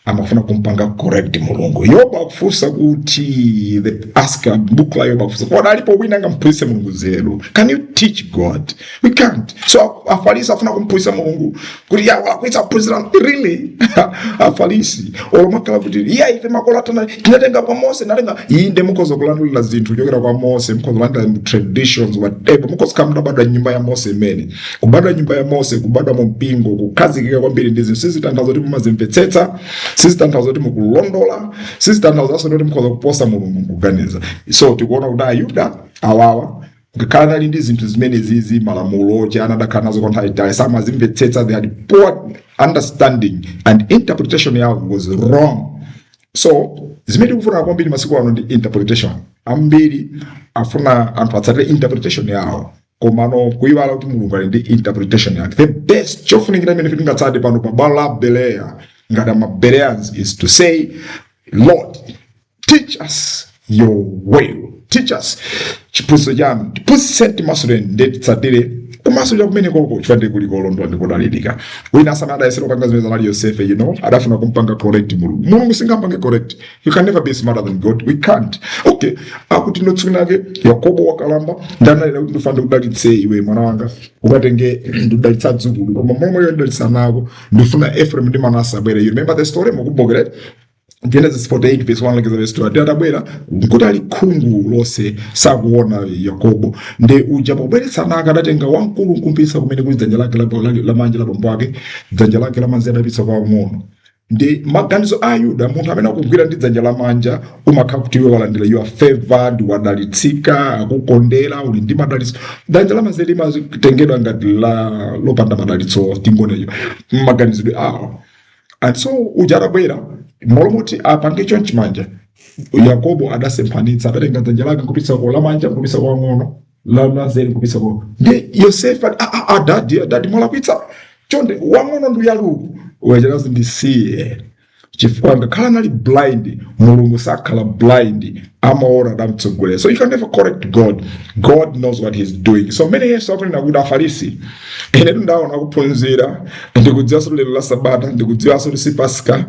amafuna kumpanga correct mulungu yoba akufunsa kuti the author book la yoba akufunsa kodi alipo wina angamphunzitse mulungu nzeru can you teach god we can't so afalisi afuna kumphunzitsa mulungu kuti yawo akuti anaphunzira really afalisi olo amakhala kuti iya ife makolo athu anatenga kwa mose natenga iyi nde mukhoza kulandulira zinthu kuchokera kwa mose mukhoza kulandira mu traditions whatever mukhoza kaya mutabadwa nyumba ya mose imene kubadwa nyumba ya mose kubadwa mu mpingo kukhazikika kwambiri ndi zinthu sizitanthauza kuti mumazimvetsetsa sizitanthauza kuti mukulondola sizitanthauza kuti mukhoza kuposa mulungu kuganiza so tikuona kuti ayuda awawa ngakhale anali ndi zinthu zimene zi malamulo chani anakhala nazo kwa nthawi yaitali samazimvetsetsa they had poor understanding and interpretation yawo was wrong so zimene tikufuna kwambiri masiku ano ndi interpretation ambiri afuna anthu atsatire interpretation yawo komano kuyiwala kuti mulungu ali ndi interpretation yake the best chofunikira imene tingatsate pano pa bwalo la bereya ngati amabereans is to say lord teach us your will teach us chiphunzitso chanu tiphunzitse timasulireni ndi titsatire kumasulira kwanuko chifukwa ndi kumene kuli kolondola ndi kodalirika wina akenso adayesera kupanga zimene zinali yosefe you know adafuna kumpanga correct mulungu mulungu singampange correct you can never be smarter than god we can't okay akuti ndi tsiku lake yakobo wakalamba ndiye analira kuti ndifuna ndikudalitse iwe mwana wanga ukatenge ndidalitsa adzukulu koma momwemo ndidalitsa ana ako ndifuna ephraim ndi manase abwere you remember the story mukumbukire Genesis 48 verse 1 lekeza verse 20 ati atabwera nkuti ali khungu lonse sakuona Yakobo ndi uja pobweretsa ana ake adatenga wamkulu nkumpitsa kumene kuli dzanja lake la- la- lamanja la bambo ake dzanja lake lamanzere adapitsa kwa wamng'ono ndi maganizo a ayuda munthu amene akugwira ndi dzanja lamanja umakhala kuti iwe walandira you are favored wadalitsika akukondera uli ndi madalitso dzanja lamanzere limatengedwa ngati lopanda madalitso tingonena maganizidwe awo and so uja atabwera mmalo moti apange chonchi manja yakobo adasemphanitsa adatenga dzanja lake nkupititsa ku lamanja nkupititsa kwa wang'ono lamazere nkupititsa ku ndi yosefe ati, "Ah, ah, ah, dadi dadi mwalakwitsa chonde wang'ono ndi uyu uku wachakazi ndisiye chifukwa ngakhale anali blind mulungu sakhala blind amaona adamtsogolera so you can never correct god god knows what he's doing so mmene yesu akunena kuti afarisi ine ndaona kuphunzira ndikudziwanso kuti lero la sabata ndikudziwanso kuti si pasika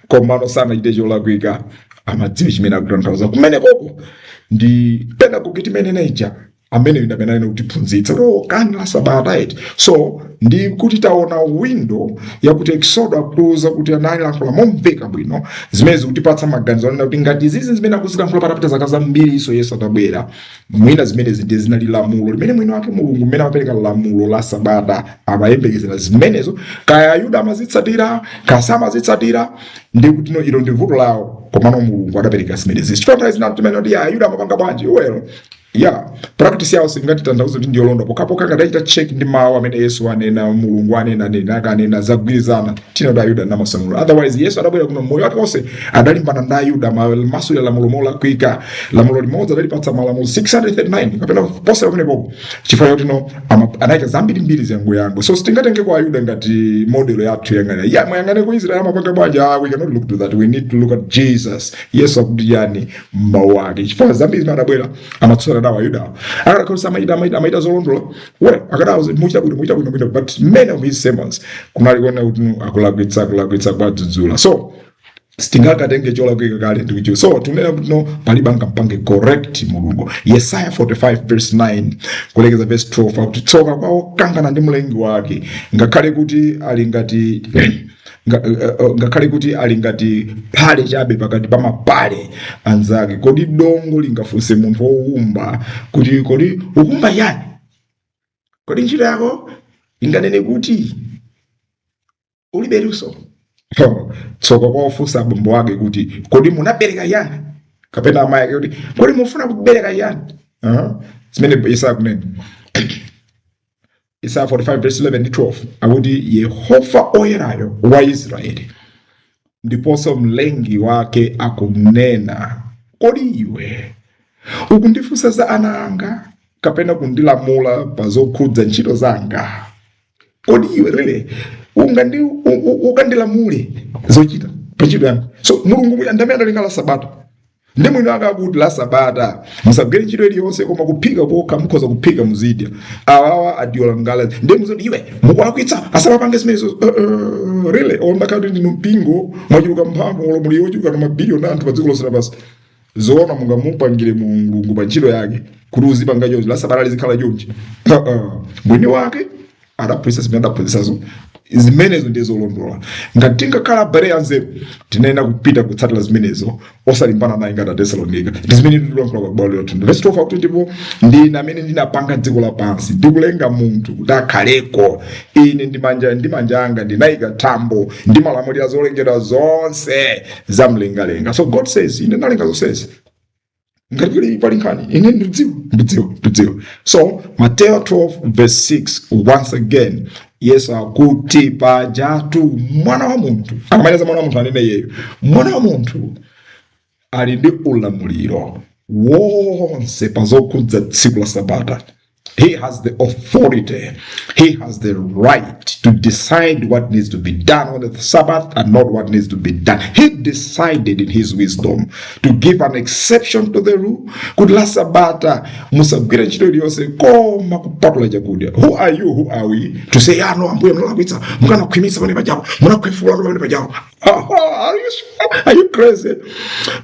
komano sanachite cholakwika amadziwe chimene akutanthauza kumenekoko ndi pena kuti timanena Elijah ameneyo ndi amene anali kutiphunzitsa kuti oh, kani la sabata eti so ndi kuti taona windo yakuti eksodo akutiuza kuti analilankhula momveka bwino zimene zikutipatsa maganizo anena kuti ngati izizi zimene akuzilankhula patapita zaka zambiri iso yesu atabwera mwina zimenezi ndiye zinali lamulo limene mwini wake mulungu mmene amapereka lamulo la sabata amayembekezera zimenezo kaya ayuda amazitsatira kaya samazitsatira ndi kuti no ilo ndi vuto lawo komano mulungu adapereka zimenezi chifukwa nthawi zina timati kuti ya ayuda amapanga bwanji well ya practice yawo singatanthauze kuti ndiyolondola pokapoka tikachita check ndi mawu amene yesu anena mulungu anena nena akanena zagwirizana tina ayuda ndi malamulo otherwise yesu adabwera kuno moyo wake onse adalimbana ndi ayuda maso ya lamulo molakwika lamulo limodzi adalipatsa malamulo 639 kapena poposera pamene popo chifukwa choti no ama- anaika zambiri mbiri zangu yangu so sitingatenge kwa ayuda ngati modelo yathu yang'ana ya muyang'ane ku israel amapanga bwanji ah, we cannot look to that we need to look at jesus yesu akuti chiyani mawu ake chifukwa zambiri zimene adabwera amatsutsana nawo ayudawo akadakhoza amachita amachita amachita zolondola well akadawauza mwachita bwino mwachita bwino bwino but many of his sermons kunali kuona kuti no akulakwitsa akulakwitsa kwadzudzula so sitingakatenge cholakwika kale ndikuchiwa so tikunena kuti no palibe angapange correct mulungu yesaya 45 verse 9 kulekeza verse 12 akuti tsoka kwa wokangana ndi mlengi wake ngakhale kuti ali ngati nga- eh, eh, ngakhale kuti ali ngati phale chabe pakati pa mapale anzake kodi dongo lingafunse munthu wowumba kuti kodi ukuumba chiyani kodi ntchito yako inganene kuti ulibe luso Ho, tsoka kwa ofunsa abambo wake kuti kodi munabereka chiyani kapena amayi ake kuti kodi mufuna kubereka chiyani Aha, zimene yesaya akunena Yesaya 45 verse 11 ndi 12 akuti Yehova oyerayo wa Israeli ndiponso mlengi wake akunena, kodi iwe ukundifunsa za ana anga kapena kundilamula pa zokhudza ntchito zanga? Kodi iwe really ungandi u- u- ukandilamule zochita pa ntchito yanga? So Mulungu mwini ndamene analenga la Sabata ndi mwini wake akuti la sabata musagwire ntchito iliyonse koma kuphika kokha mukhoza kuphika muzidya awa adyola ngala ndi kumawauza iwe mukulakwitsa asamapange zimenezo uh, uh, really ngakhale kuti ndinu mpingo mwachuluka mphamvu ulamuliro wochuluka na mabiliyoni a anthu pa dziko lonse lapansi zoona mungamupangire mulungu pa ntchito yake kuti uzipanga chonchi la sabata lizikhala chonchi uh, uh. mwini wake adaphunzitsa zimene adaphunzitsazo zimenezo ndiye zolondola ngati tingakhala abale anzeru tinayenera kupita kutsatira zimenezo osalimbana naye ngati Atesalonika ndi zimene ndilankhula kwa bwalo lothu verse 12 akuti ndipo ndine amene ndinapanga dziko lapansi ndikulenga munthu kuti akhaleko ine ndi manja ndi manja anga ndinayika thambo ndimalamulira zolengedwa zonse za mlengalenga so god says ine ndalenga zonsezi ngati pali pali nkhani ine ndidziwa ndidziwa ndidziwa so mateyo 12 verse 6 once again yesu akuti pajatu mwana wa munthu akamanena mwana wa munthu akunena iyeyo mwana wa munthu ali ndi ulamuliro wonse pa zokhudza tsiku la sabata He has the authority. He has the right to decide what needs to be done on the Sabbath and not what needs to be done. He decided in his wisdom to give an exception to the rule. Could la Sabata musagwira ntchito iliyonse koma kupatula chakudya. Who are you? Who are we? To say, ah, no, ambuye munalakwitsa, mukanakhwimitsa pamene pajapo, munakhwefula pamene pajapo. Are you, are you crazy?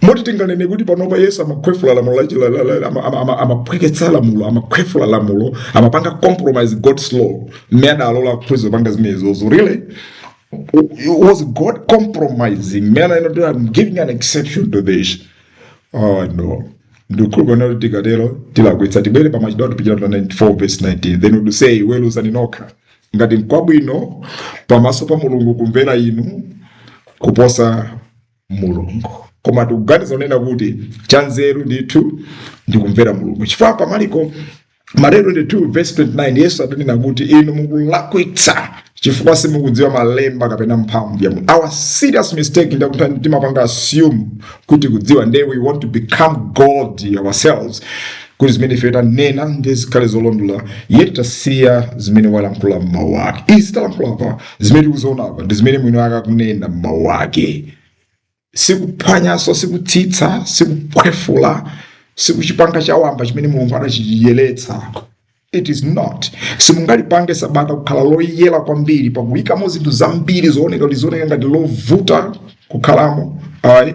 Moti tinganene kuti panopa Yesu amakhwefula lamulo la chila- la- la- ama- ama- ama- amaphweketsa lamulo amakhwefula lamulo amapanga compromise God's law mmene adalola ophunzira kupanga zimenezozo really was God compromising mmene anena kuti I'm giving an exception to this Oh no. Ndikukhulupirira kuti tikatero tilakwitsa tibwere pa Machitidwe Atumwi chaputala 4 verse 19 then we say weruzani nokha Ngati nkwabwino pamaso pa Mulungu kumvera inu kuposa Mulungu, koma tikuganiza kunena kuti chanzeru ndithu ndi kumvera Mulungu, chifukwa pa Marko Mateyu 22 verse 29 Yesu adanena kuti inu mukulakwitsa chifukwa simukudziwa malemba kapena mphamvu ya Mulungu. Our serious mistake ndi kuti timapanga assume kuti tikudziwa nde we want to become God ourselves kuti zimene ife tanena nde zikhale zolondola yet tasiya zimene walankhula m'mawu ake izi talankhula apa zimene tikuziona apa ndi zimene mwini wake akunena m'mawu ake sikuphwanyanso sikutsitsa sikukhwefula sikuchipanga chawamba chimene mulungu anachiyeretsa It is not. Simungalipange sabata kukhala loyera kwambiri pakuyikamo zinthu zambiri zooneka lizioneka ngati lovuta kukhalamo ayi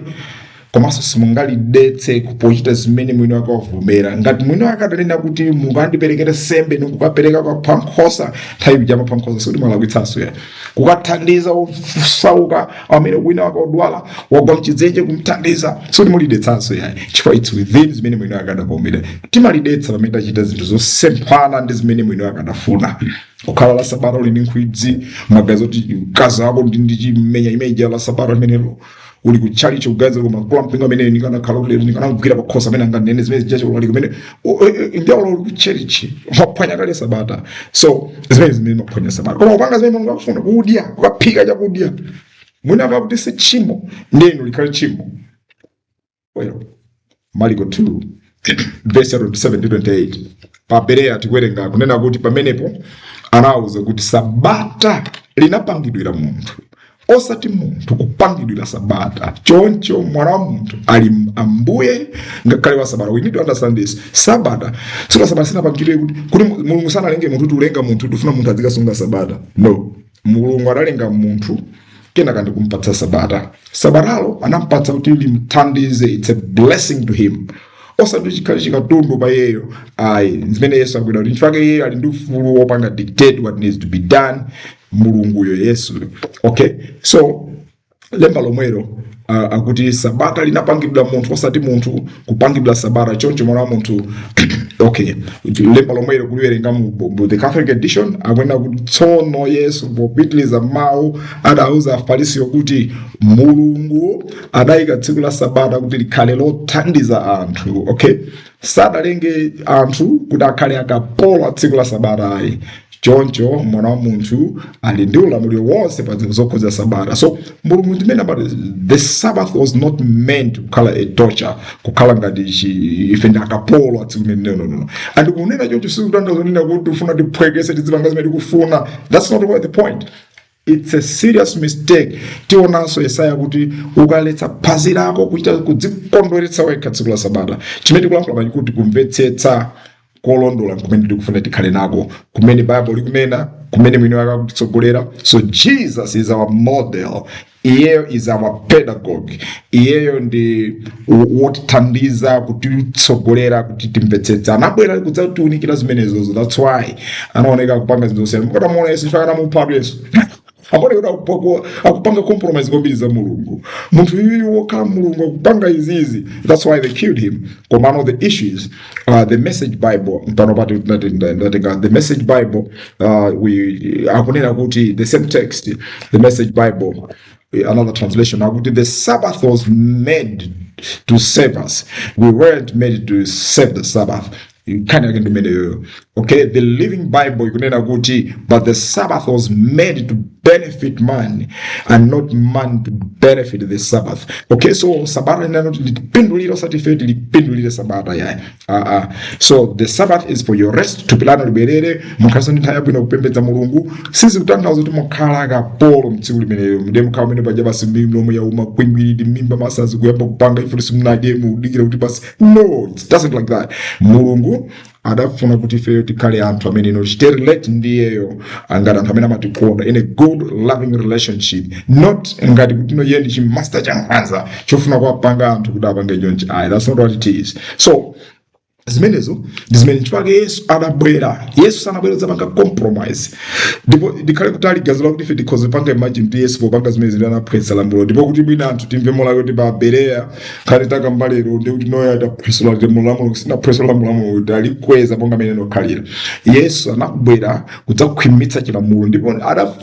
komanso simungalidetse pochita zimene mwini wake wavomera ngati mwini wake adanena kuti mukandiperekere sembe nikukapereka kwapha nkhosa nthawi ija mwapha nkhosa sikuti mwalakwitsanso ya kukathandiza osauka amene kwinakwake odwala wagwa mchidzenje kumthandiza sitimulidetsanso ayi chifukwa its within zimene mwini wake adavomereza timalidetsa pamene tachita zinthu zosemphana ndi zimene mwini wake adafuna kukhala la sabata uli ndi nkhwidzi magazi oti mkazi wako ndichimenya imeja la sabata limenelo uli ku chalichi kuganiza koma mkulu wampingo amene ndikanakhala kuti ndikanamgwira pakhosi amene anganene zimene zijacho ulali kumene ndiaula uli ku chalichi maphwanya kale sabata so zimene zimene maphwanya sabata koma kupanga zimene mulungu akufuna kudya kukaphika chakudya mwina akakuti si tchimo ndinu likhale tchimo Well, Marko 2 verse 27 ndi 28 pa Berea tikuwerenga kunena kuti pamenepo anawauza kuti sabata linapangidwira munthu osati munthu kupangidwira sabata choncho mwana wa munthu ali ambuye ngakhale wa sabata we need to understand this sabata sabata sinapangidwe kuti kuti mulungu sanalenge munthu kuti ulenga munthu kuti akufuna munthu azikasunga sabata no mulungu analenga munthu kenaka ndikumpatsa sabata sabatalo anampatsa kuti limthandize its a blessing to him osati chikhale chikatundu pa iyeyo ayi zimene yesu akunena kuti nchifukwa chake iyeyo ali ndi ufulu wopanga dictate what needs to be done mulunguyo yesu okay so lemba lomwelo uh, akuti sabata linapangidwa munthu osati munthu kupangidwa sabata choncho mwana wa munthu okay lemba lomwelo kuliwerenga mu mu- mu the catholic edition akunena kuti tsono yesu popitiriza mawu adauza afarisiyo kuti mulungu adayika tsiku la sabata kuti likhale lothandiza anthu okay sadalenge anthu kuti akhale akapolo a tsiku la sabata ayi choncho mwana wa munthu ali ndi ulamuliro wonse pa zinthu zokhudza sabata so mulungu zimene amati the sabbath was not meant kukhala a torture kukhala ngati chi- ife ndi akapolo a tsiku limene nonono and kunena choncho sikutanthauza kunena kuti tikufuna tiphweketse tizipanga zimene tikufuna that's not what the point It's a serious mistake. Tionanso Yesaya kuti ukaletsa phazi lako kuchita kudzikondweretsa wekha tsiku la Sabata. Chimene tikulankhula pano nchakuti kumvetsetsa kolondola nkumene tikufuna tikhale nako, kumene Baibulo likunena, kumene mwini wake akutitsogolera. So Jesus is our model. Iyeyo is our pedagogue. Iyeyo ndi wotithandiza kutitsogolera kuti timvetsetse anabwera kudzatiunikira zimenezozo that's why anaoneka akupanga zinthu zosiyana mukatamuona yesu chifukwa anamuphatu yesu amaoneka kuti akupanga compromise kwambiri za mulungu munthu uyu wokhala mulungu akupanga izizi that's why they killed him komano the issues uh, the message bible pano ndatenga the message bible uh, we akunena kuti the same text the message bible Eh, another translation akuti the sabbath was made to save us we weren't made to save the sabbath nkhani yake ndimeneyoyo okay the living bible ikunena kuti but the sabbath was made to benefit man and not man to benefit the sabbath okay so sabata inena kuti litipindulire osati ife tilipindulire sabata yayi aa so the sabbath is for your rest thupi lanu libwerere mukhalenso ndi nthawi yabwino yopembedza mulungu sizikutanthauza kuti mukhala akapolo mtsiku limenelo nde mukhala mmene paja basi milomo yauma kwingwiridi mmimba mwasasa kuyamba kupanga chifukwa choti simunadye mukudikira kuti basi no it doesn't like that mulungu adafuna kuti ifeyo tikhale anthu amene iyeyo tichite relate ndi iyeyo ngati anthu amene amatikonda in a good loving relationship not ngati kuti iyeyo ndi chimaster chankhanza chofuna kuwapanga anthu kuti apange chonchi ayi that's not what it is so zimenezo ndi zimene chifukwa chake yesu adabwera yesu sanabwera kudzapanga compromise ndipo ndikhale kutali ganizo lakuti ife tikhoza kupanga imagine kuti yesu popanga zimene zimene anaphwetsa lamulo ndipo kuti mwina anthu timve molakwa kuti pa bereya khale takamba lero ndi kuti noyo adaphwesula lamulo lamulo sinaphwesula lamulo lamulo kuti alikweza monga amene anakhalira yesu anabwera kudzakhwimitsa chilamulo ndipo ada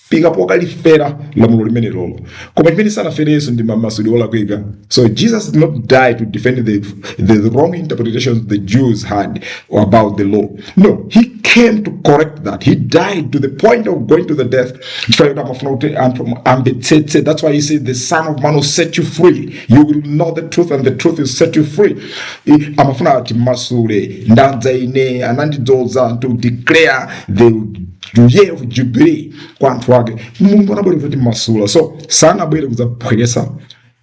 fika pokalifera lamulo limenelolo koma chimene sanafere yesu ndi mamasulidwe olakwika so jesus did not die to defend the, the, the wrong interpretations the jews had about the law no he came to correct that he died to the point of going to the death chifukwa choti amafuna kuti anthu amvetsetse that's why he said the son of man will set you free you will know the truth and the truth will set you free I- amafuna atimasule ndadza ine anandidzoza to declare the year of jubilee kwa anthu ake mulungu anabwera kudzatimasula so sanabwere kudzaphweketsa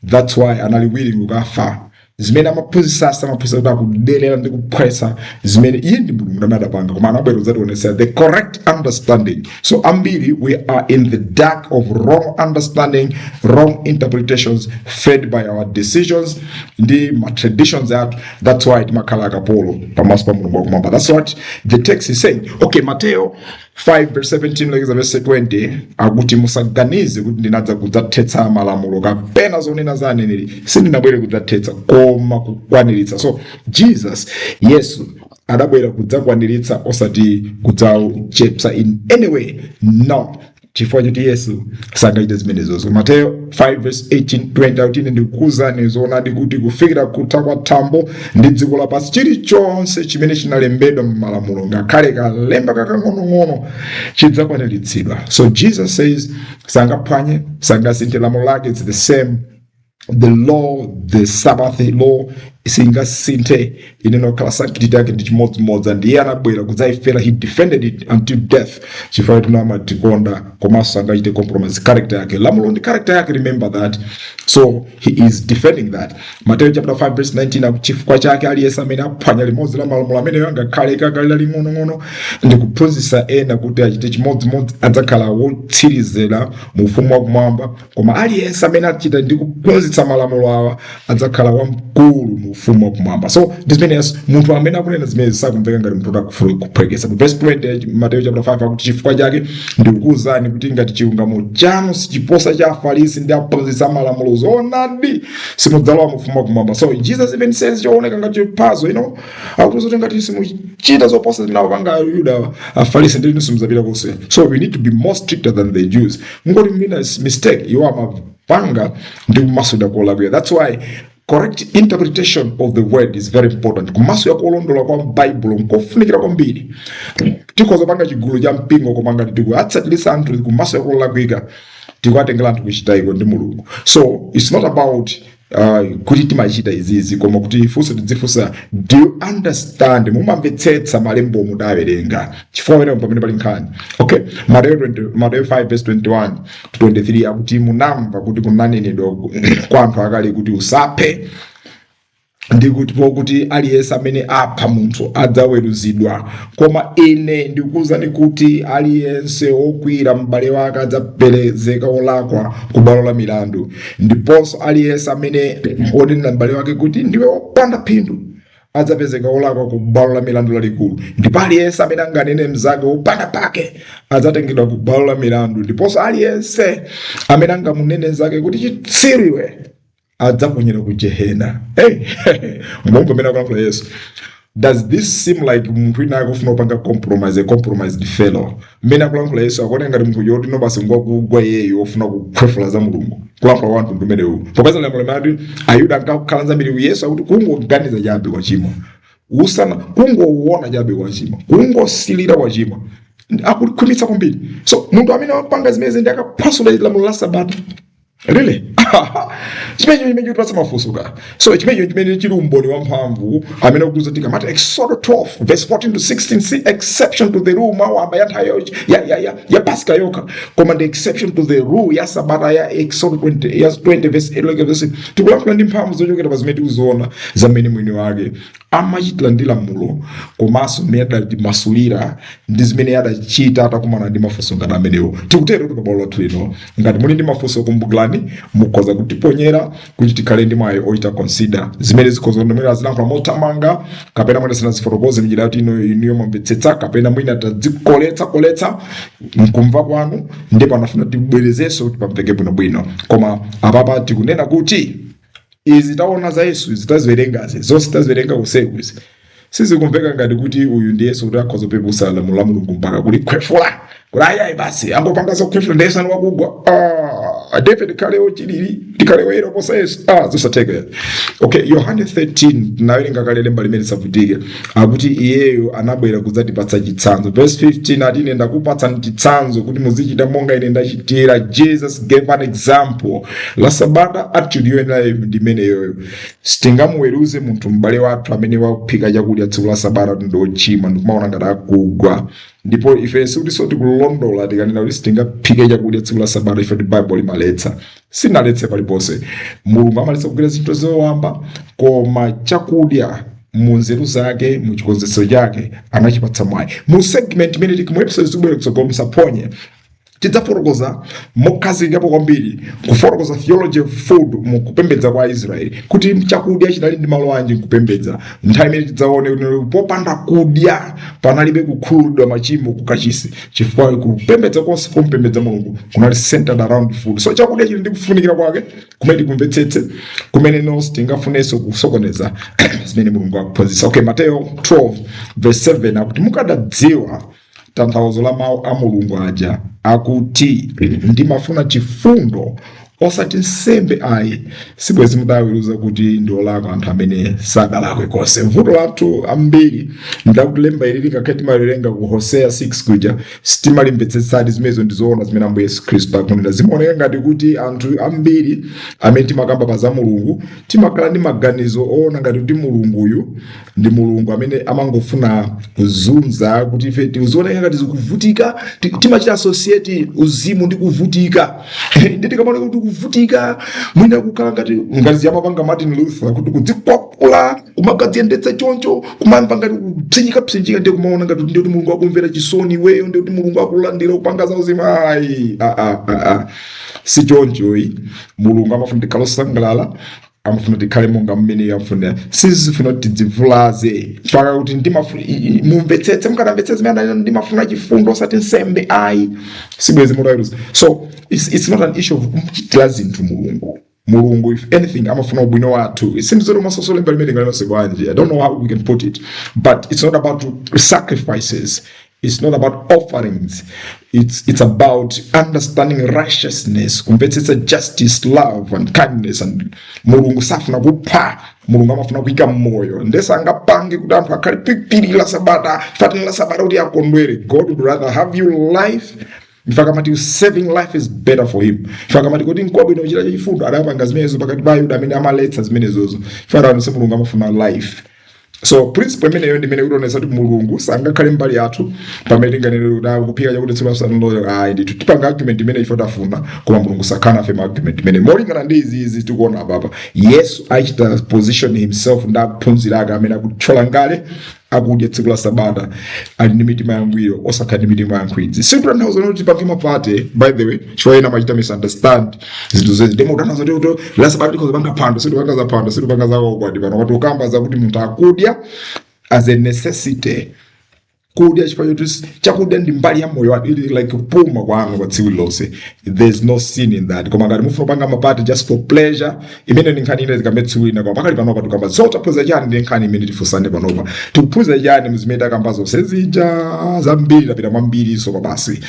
thats why anali willing kukafa zimene amaphunzitsa samaphunzitsa kuti akuderera ndi kuphwetsa zimene iye ndi mulungu amene adapanga koma anabwera kudzationetsa the correct understanding so ambiri we are in the dark of wrong understanding wrong interpretations fed by our decisions ndi ma traditions athu That's why timakhala akapolo pamaso pa Mulungu wakumwamba. That's what the text is saying. Okay, Mateo 5 verse 17 kulekeza verse 20 akuti musaganize kuti ndinadza kudzathetsa malamulo kapena zonena za aneneri sindinabwere kudzathetsa koma kukwaniritsa. So Jesus Yesu adabwera kudzakwaniritsa osati kudzawachepsa in any way. No. chifukwa choti yesu sangachite zimenezozo mateyo 5 verse 18 20 akuti ine ndikukuuzani zoonadi kuti kufikira kutha kwa thambo ndi dziko lapansi chilichonse chimene chinalembedwa m'malamulo ngakhale kalemba kakang'onong'ono chidzakwaniritsidwa so jesus says sangaphwanye sangasinthe lamulo lake its the same the law the sabbath law singasinthe inene okhala sanctity yake ndi chimodzimodzi and iye anabwera kudzayifera he defended it until death chifukwa choti amatikonda koma sangachite compromise character yake lamulo ndi character yake remember that so he is defending that mateyo chapter 5 verse 19 aku- chifukwa chake aliyense amene aphwanya limodzi la malamulo amenewa ngakhale laling'onong'ono ndi kuphunzitsa ena kuti achite chimodzimodzi adzakhala wotsirizira mu ufumu wakumwamba Koma aliyense amene achita ndi kuphunzitsa malamulo awa adzakhala wamkulu mu ufumu wa kumwamba. So ndi zimene Yesu munthu amene akunena zimenezi sakumveka ngati munthu akufuna kuphweketsa. Mu verse 20 ya Mateyu chapter 5 akuti chifukwa chake ndikukuwuzani kuti ngati chilungamo chanu sichiposa cha Afarisi ndi aphunzitsi a malamulo zoonadi simudzalowa mu ufumu wa kumwamba. So Jesus even says chooneka ngati chophwanya, you know, akuti zoti ngati simuchita zoposa zimene akupanga Ayuda Afarisi ndi inu simudzapita konse. So we need to be more stricter than the Jews. mungoti mwina mistake iwo amapanga ndi kumasulira kolakwira that's why correct interpretation of the word is very important kumasulira kolondola kwa baibulo nkofunikira kwambiri tikhoza kupanga chigulu cha mpingo koma ngati tikuatsatitsa anthu kumasulira kolakwika tikuatengera anthu kuchitayiko ndi mulungu so it is not about uh, kuti timachita izizi koma kuti funso tidzifunsa do you understand mumamvetsetsa malembo omwe mudawerenga chifukwa werenga pamene pali nkhani okay mateyo 20 mateyo 5 verse 21 to 23 akuti munamva kuti kunanenedwa kwa anthu akale kuti usaphe ndi kuti pokuti aliyense amene apha munthu adzaweruzidwa koma ine ndikuwuzani kuti aliyense wokwiyira m'bale wake adzapezeka wolakwa ku bwalo la milandu ndiponso aliyense amene wonenera m'bale wake kuti ndiwe wopanda phindu adzapezeka wolakwa ku bwalo la milandu lalikulu ndipo aliyense amene anganene mnzake wopanda pake adzatengedwa ku bwalo la milandu ndiponso aliyense amene angamunene mnzake kuti chitsiru iwe adzaponyedwa ku gehena hey, momwe pamene akulankhula yesu Does this seem like munthu wina akufuna kupanga compromise a compromised fellow? Mmene akulankhula Yesu akuoneka ngati munthu woti no basi ngwakugwa iyeyo ofuna kukhwefula za Mulungu. Kulankhula kwa mtundu umenewu. Popeza pena amati Ayuda ankadana kwambiri ku Yesu akuti kungoganiza chabe kwachimwa. Usana kungoona chabe kwachimwa. Kungosilira kwachimwa. Akulikhwimitsa kwambiri. So munthu amene akupanga zimenezi ndi akaphwasula lamulo la Sabata. really chimenecho chimene chikutipatsa mafunsoka so chimenecho chimene chili umboni wamphamvu umene ukudza tikamati exodo 12 verse 14 to 16 si exception to the rule mwayamba ya nthawi yo- ya, ya, ya, ya paska yokha koma ndi exception to the rule ya sabata ya exodo 20, ya 20 verse 8 like verse tikulankhula ndi mphamvu zochokera pa zimene tikuziona za mmene mwini wake amachitira ndi lamulo komanso mmene adalimasulira ndi zimene adachita atakumana ndi mafunso ngati amenewo tikutero kuti pabwalo lathu lino ngati muli ndi mafunso kumbukirani mukhoza kutiponyera kuti tikhale ndi mwayi ochita consider zimene zikhoza kuti mwina ndinayankhula mothamanga kapena mwina sindinazifotokoze mnjira yoti ino inu yomamvetsetsa kapena mwina tazikoletsa koletsa mkumva kwanu ndipo munafuna tibwerezenso kuti pamveke bwinobwino koma apapa tikunena kuti izi taona za yesu izi taziwerengazi zonse taziwerenga kuseku izi sizikumveka ngati kuti uyu ndi yesu kuti akhoza kupeputsa lamulo la mulungu mpaka kulikhwefula kuti ayayi basi angopanga zokhwefula ndi yesu ndi wakugwa ah, david tikhale ochilili tikhale oyera kuposa yesu ah, zosatheka okay yohane 13 nawerenga kale lemba limene silivutika akuti iyeyo anabwera kudzatipatsa chitsanzo verse 15 ati ine ndakupatsani chitsanzo kuti muzichita monga ine ndachitira jesus gave an example la sabata attitude yoyenera ndi imeneyoyo sitingamuweruze munthu m'bale wathu amene waphika chakudya tsiku la sabata kuti ndi ochimwa ndikumaona ngati akugwa ndipo ife sikutinso tikulondola tikanena kuti sitingaphike chakudya tsiku la sabata chifukwa choti bible limaletsa silinaletse paliponse mulungu amaletsa kugwira zinthu zowamba koma chakudya mu nzeru zake mu chikonzetsero chake anachipatsa mwayi mu segment imene ili mu episode zikubwera kutsogolo musaphonye tidzafotokoza mokhazikikapo kwambiri kufotokoza theology of food mu kupembedza kwa israeli kuti chakudya chinali ndi malo anji mkupembedza nthawi imene tidzaone kuti popanda kudya panalibe kukhululukidwa machimo kukachisi chifukwa kupembedza konse kompembedza mulungu kunali centered around food so chakudya chili ndi kufunikira kwake kumene tikumvetsetse kumene nonse tisafunenso kusokoneza zimene mulungu akuphunzitsa okay mateyo 12 verse 7 akuti mukadadziwa tanthauzo la mawu a mulungu aja akuti ndimafuna chifundo osati nsembe ayi sibwezi mudaweruza kuti ndi olakwa anthu amene sadalakwe konse mvuto lathu ambiri ndi lakuti lemba ili ngakhale timaliwerenga ku hoseya 6 kuja sitimalimvetsetsadi zimenezo ndi zoona zimene ambuye yesu khristu akunena zimaoneka ngati kuti anthu ambiri amene timakamba pa za mulungu timakhala ndi maganizo oona ngati kuti mulunguyu ndi mulungu amene amangofuna kuzunza kuti ife tizioneka ngati tikuvutika ti- timachita associate uzimu ndi kuvutika ndi tikamaoneka kuti kuvutika mwina kukhala ngati ngati zija amapanga martin luther kuti kudzikwapula kumagadziyendetsa choncho kumamva ngati kupsinjikapsinjika ndiye kumaona ngati ndiye kuti mulungu akumvera chisoni iweyo ndiye kuti mulungu akulandira kupanga za uzimu ayi ah, ah, ah, ah. si choncho ayi mulungu amafuna tikhale osangalala amafuna tikhale monga mmene iye afunira sakufuna kuti tidzivulaze mpaka kuti ndimafu- i- i- mumvetsetse mukadamvetsetsa zimene ananena ndimafuna chifundo osati nsembe ayi sibwezi mutaweruza so it's, it's not an issue of kumchitira zinthu mulungu mulungu if anything amafuna ubwino wathu simzero masosolemba limene tingalimase bwanji i don't know how we can put it but it's not about sacrifices It's not about offerings. It's, it's about understanding righteousness, kumvetsetsa justice, love and kindness and Mulungu safuna kupha mulungu amafuna kuika moyo ndesangapange kuti anthu akhale pipiri la sabata fatani la sabata kuti akondwere god would rather have you live mfakamati saving life is better for him mfakamati kuti nkwabwino kuchita chachifundo adapanga zimenezo pakati pa ayuda amene amaletsa zimenezozo farawo nse mulungu amafuna life so principle imeneyo ndimene ikutionetsa kuti mulungu sangakhale mbali yathu pamene tinganene kuti ah, kuphika chakudya tsiku la sabatalo ayi ndithu tipanga argument imene ife tafuna koma mulungu sakhala nafe mu argument imene molingana ndi zimene tikuona apapa yesu akuchita position himself ndi akuphunzira ake amene akutchola ngala akudya tsiku la sabata ali ndi mitima yangwiro osakhala ndi mitima yankhwidzi sikutanthauza kuti tipange mapati by the way chifukwa ena amachita misunderstand zinthu zimenezi ndiye kutanthauza kuti tsiku la sabata tikhoza kupanga phwando sitikukamba za phwando sitikukamba za ukwati pano tikukamba za kuti munthu akudya as a necessity kudya chifukwa choti chakudya ndi mbali ya moyo wanu ili like kupuma kwanu kwa tsiku lonse there's no sin in that koma ngati mufuna kupanga mapati just for pleasure imene ndi nkhani ina tikambe tsiku lina koma pakali panopa tikukamba so taphunzira chani ndi nkhani imene tifunsane panopa tikuphunzira chani mu zimene takamba zonse zija zambiri tapita mwambiri so kwabasi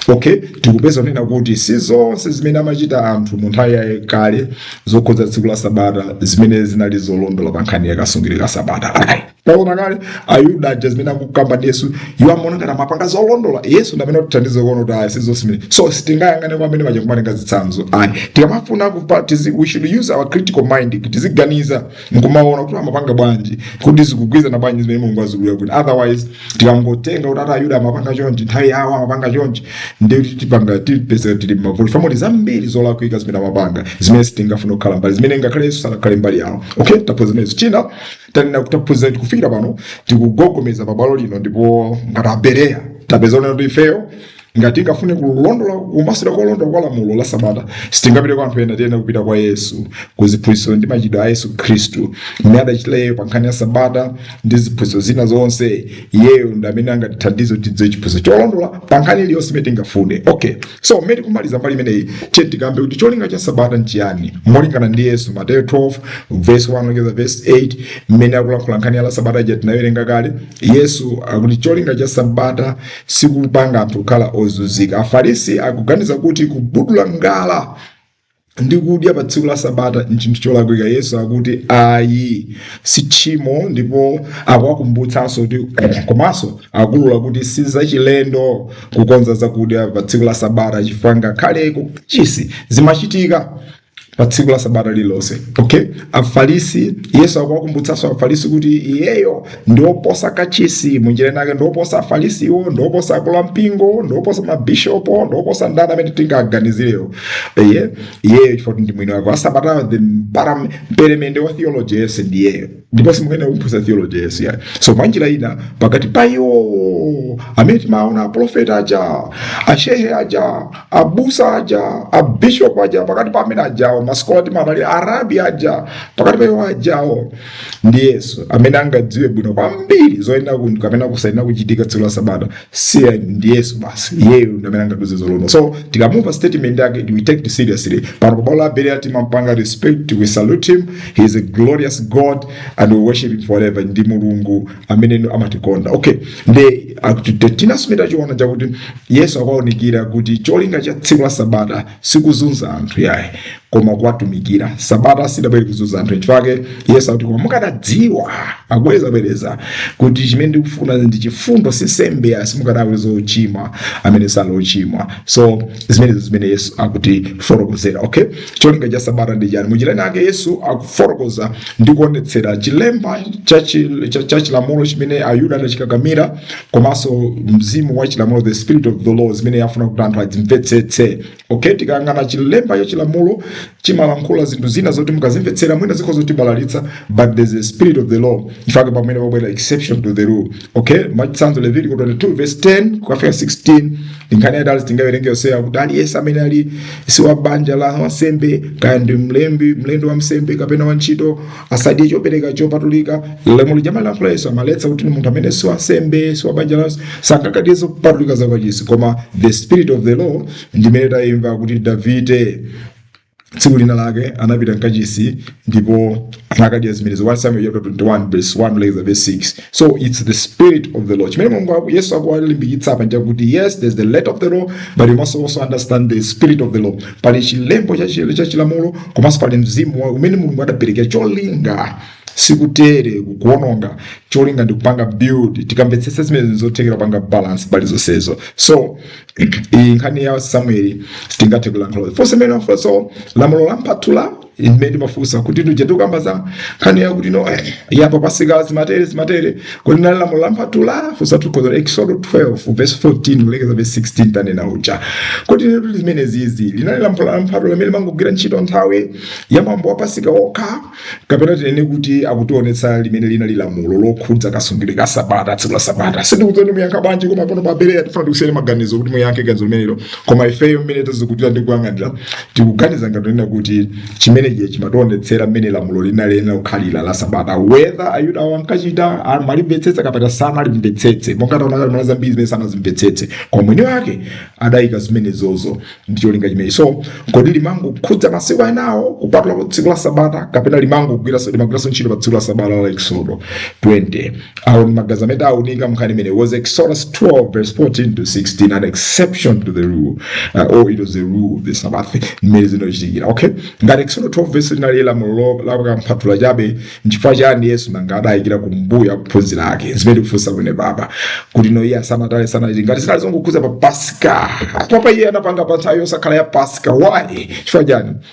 okay tikupeza kunena kuti si zonse zimene amachita anthu mu nthawi yakale zokhudza tsiku la sabata zimene zinali zolondola pa nkhani ya kasungidwe ka sabata Alright. taona kale ayuda aja zimene akukamba ndi yesu iwo amaona ngati amapanga zolondola yesu ndi amene atithandize kuona kuti ayi si zonse zimene so sitingayang'ane kwa amene aja kumatenga zitsanzo ayi tikamafuna kupanga tizi, we should use our critical mind tiziganiza nkumaona kuti amapanga bwanji kuti zikugwirizana bwanji ndi zimene mulungu akufuna kuti otherwise tikangotenga kuti ati ayuda amapanga chonchi nthawi yawo amapanga chonchi ndiye kuti tipanga tipezeka tili mma fault ma fault zambiri zolakwika zimene amapanga zimene sitingafune kukhala mbali zimene ngakhale yesu sanakhale mbali yawo okay taphunzira zimenezo china tanena kuti taphunzira kuti kufikira pano tikugogomeza pabwalo lino ndipo ngati abereya tapeza kunena kuti ifeyo ngati tingafune kulondola kumasulira kolondola kwa lamulo la sabata sitingapite kwa anthu ena tiyenera kupita kwa yesu ku ziphunzitso ndi machitidwe a yesu khristu mmene adachitira iyeyo pa nkhani ya sabata ndi ziphunzitso zina zonse iyeyo ndi amene angatithandize kuti tidziwe chiphunzitso cholondola pa nkhani iliyonse imene tingafune okay So mmene tikumaliza mbali imeneyi tiye tikambe kuti cholinga cha sabata nchiyani molingana ndi Yesu Mateyo 12 verse 1 kulekeza verse 8 mmene akulankhula nkhani ya sabata ija tinaiwerenga kale Yesu akuti cholinga cha sabata sikupanga anthu kukhala ozunzika Afarisi akuganiza kuti kubudula ngala ndi kudya pa tsiku la sabata nchinthu cholakwika yesu akuti ayi si tchimo ndipo akuwakumbutsanso kuti komanso akulula kuti si zachilendo kukonza zakudya pa tsiku la sabata chifukwa ngakhale ku kachisi zimachitika pa tsiku la sabata lililonse okay afarisi yesu akuwakumbutsanso afarisi kuti iyeyo ndioposa kachisi mwanjira inake ndioposa afalisiwo ndioposa akulu a mpingo ndioposa mabishopo ndioposa ndani amene tingaganizirewo eye iyeyo chifukwa ndi mwini wake wasabatayo the param- mperemende wa theology yesu ndiyeyo ndipo simungathe kumphunzitsa theology yesu yayi so mwanjira ina pakati pa iwo amene timaona aprofeti aja ashehe aja abusa aja abishop aja pakati pa amene ajawo masikola timaona aja arabi aja pakati pa iwo ajawo ndi yesu amene angadziwe bwino kwambiri zoyenera kuchitika kapena zosayenera kuchitika tsiku la sabata si ayi ndi yesu basi iyeyo ndi amene angatiuze zolondola so tikamumva statement yake we take it seriously pano pa bwalo la berea timampatsa respect we salute him he is a glorious god and we worship him forever ndi mulungu amene amatikonda okay nde akuti tinasumira choona chakuti yesu akuonetsera kuti cholinga cha tsiku la sabata sikuzunza anthu iyayi koma kuwatumikira sabata sidabwere kuzunza anthu nchifukwa chake yesu akuti koma mukadadziwa akubwereza bwereza kuti chimene ndikufuna ndi chifundo si nsembe ayi simukadawayesa ochimwa amene sali ochimwa so zimenezo zimene yesu akutifotokozera okay cholinga cha sabata ndi chani mu chilankhulo chake yesu akufotokoza ndi kuonetsera chilembo cha chi- cha- cha chilamulo chimene ayuda anachikakamira komanso mzimu wa chilamulo the spirit of the law zimene akufuna kuti anthu adzimvetsetse okay tikayang'ana chilembo cha chilamulo chimalankhula zinthu zina zoti mukazimvetsera mwina zikhoza kutibalalitsa but there's a spirit of the law nchifukwa chake pamene pabwera exception to the rule okay mwachitsanzo levitiko 22 verse 10 kukafika 16 ndi nkhani yaitali sitingawerenge yonseyo kuti aliyense amene ali si wa banja la wansembe kaya ndi mlembi mlendo wa wansembe kapena wantchito asadye chopereka chopatulika lamulo lija limalankhula yesu limaletsa kuti munthu amene si wansembe si wabanja lawo sangakadye zopatulika za mkachisi koma the spirit of the law ndimene tayimva kuti davide tsiku lina lake anapita mkachisi ndipo anakadya zimenezo 1 samuel chapter 21 verse 1 later verse 6 so it's the spirit of the law chimene mulungu aku- yesu akuwalimbikitsa apa nchakuti yes there's the letter of the law but you must also understand the spirit of the law pali chilembo cha chi- cha chilamulo komanso pali mzimu wa- umene mulungu adaperekera cholinga sikutere kuononga cholinga ndi kupanga build tikamvetsetsa zimenezi nzothekera kupanga balance pa zonsezo so iyi nkhani ya samueli sitingathe kulankhula funso imene funso lamulo la mphatula imene timafunsa kuti tija tukamba za nkhani yakuti no eh, yapa pasika zimatere zimatere kodi linali lamulo la mphatula funso lokhudza eksodo 12 verse 14 kulekeza verse 16 tanena uja kodi lamulo limeneli linali lamulo la mphatula limene limangogwira ntchito nthawi ya mwambo wa pasika okha kapena tinene kuti akutionetsa limene linali lamulo lokhudza kasungidwe ka sabata tsiku la sabata sindikudziwa muyankha bwanji koma pano pa bereya tifuna tikusiyeni maganizo kuti muyankhe ganizo limenelo koma ifeyo mmene tazikutulira ndi kuyang'anira tikuganiza ngati kunena kuti chimenechi chimationetsera mmene lamuloli linayenera kukhalira la sabata whether ayuda awo ankachita amalimvetsetsa kapena sanalimvetsetse monga taona kale mwina zambiri zimene sanazimvetsetse koma mwini wake adayika zimenezozo ndi cholinga chimenechi so kodi limangokhudza masiku anawo kupatula pa tsiku la sabata kapena limangogwiranso limagwiranso ntchito pa tsiku la sabata la eksodo 20 awo ndi magazi amene tawunika mnkhani imene was exodus 12 verse 14 to 16 an exception to the rule uh, or it was the rule of the sabbath mmene zinachitikira okay ngati exodus 12 verse linali lamulo lakamphwathula chabe nchifukwa chani yesu nanga adayikira kumbuyo akuphunzira ake zimene tikufunsa kwene baba kuti no iye asamatale sanachiti ngati zinali zongokhudza pa pasika papa iye anapanga pa nthawi yosakhala ya pasika why chifukwa chani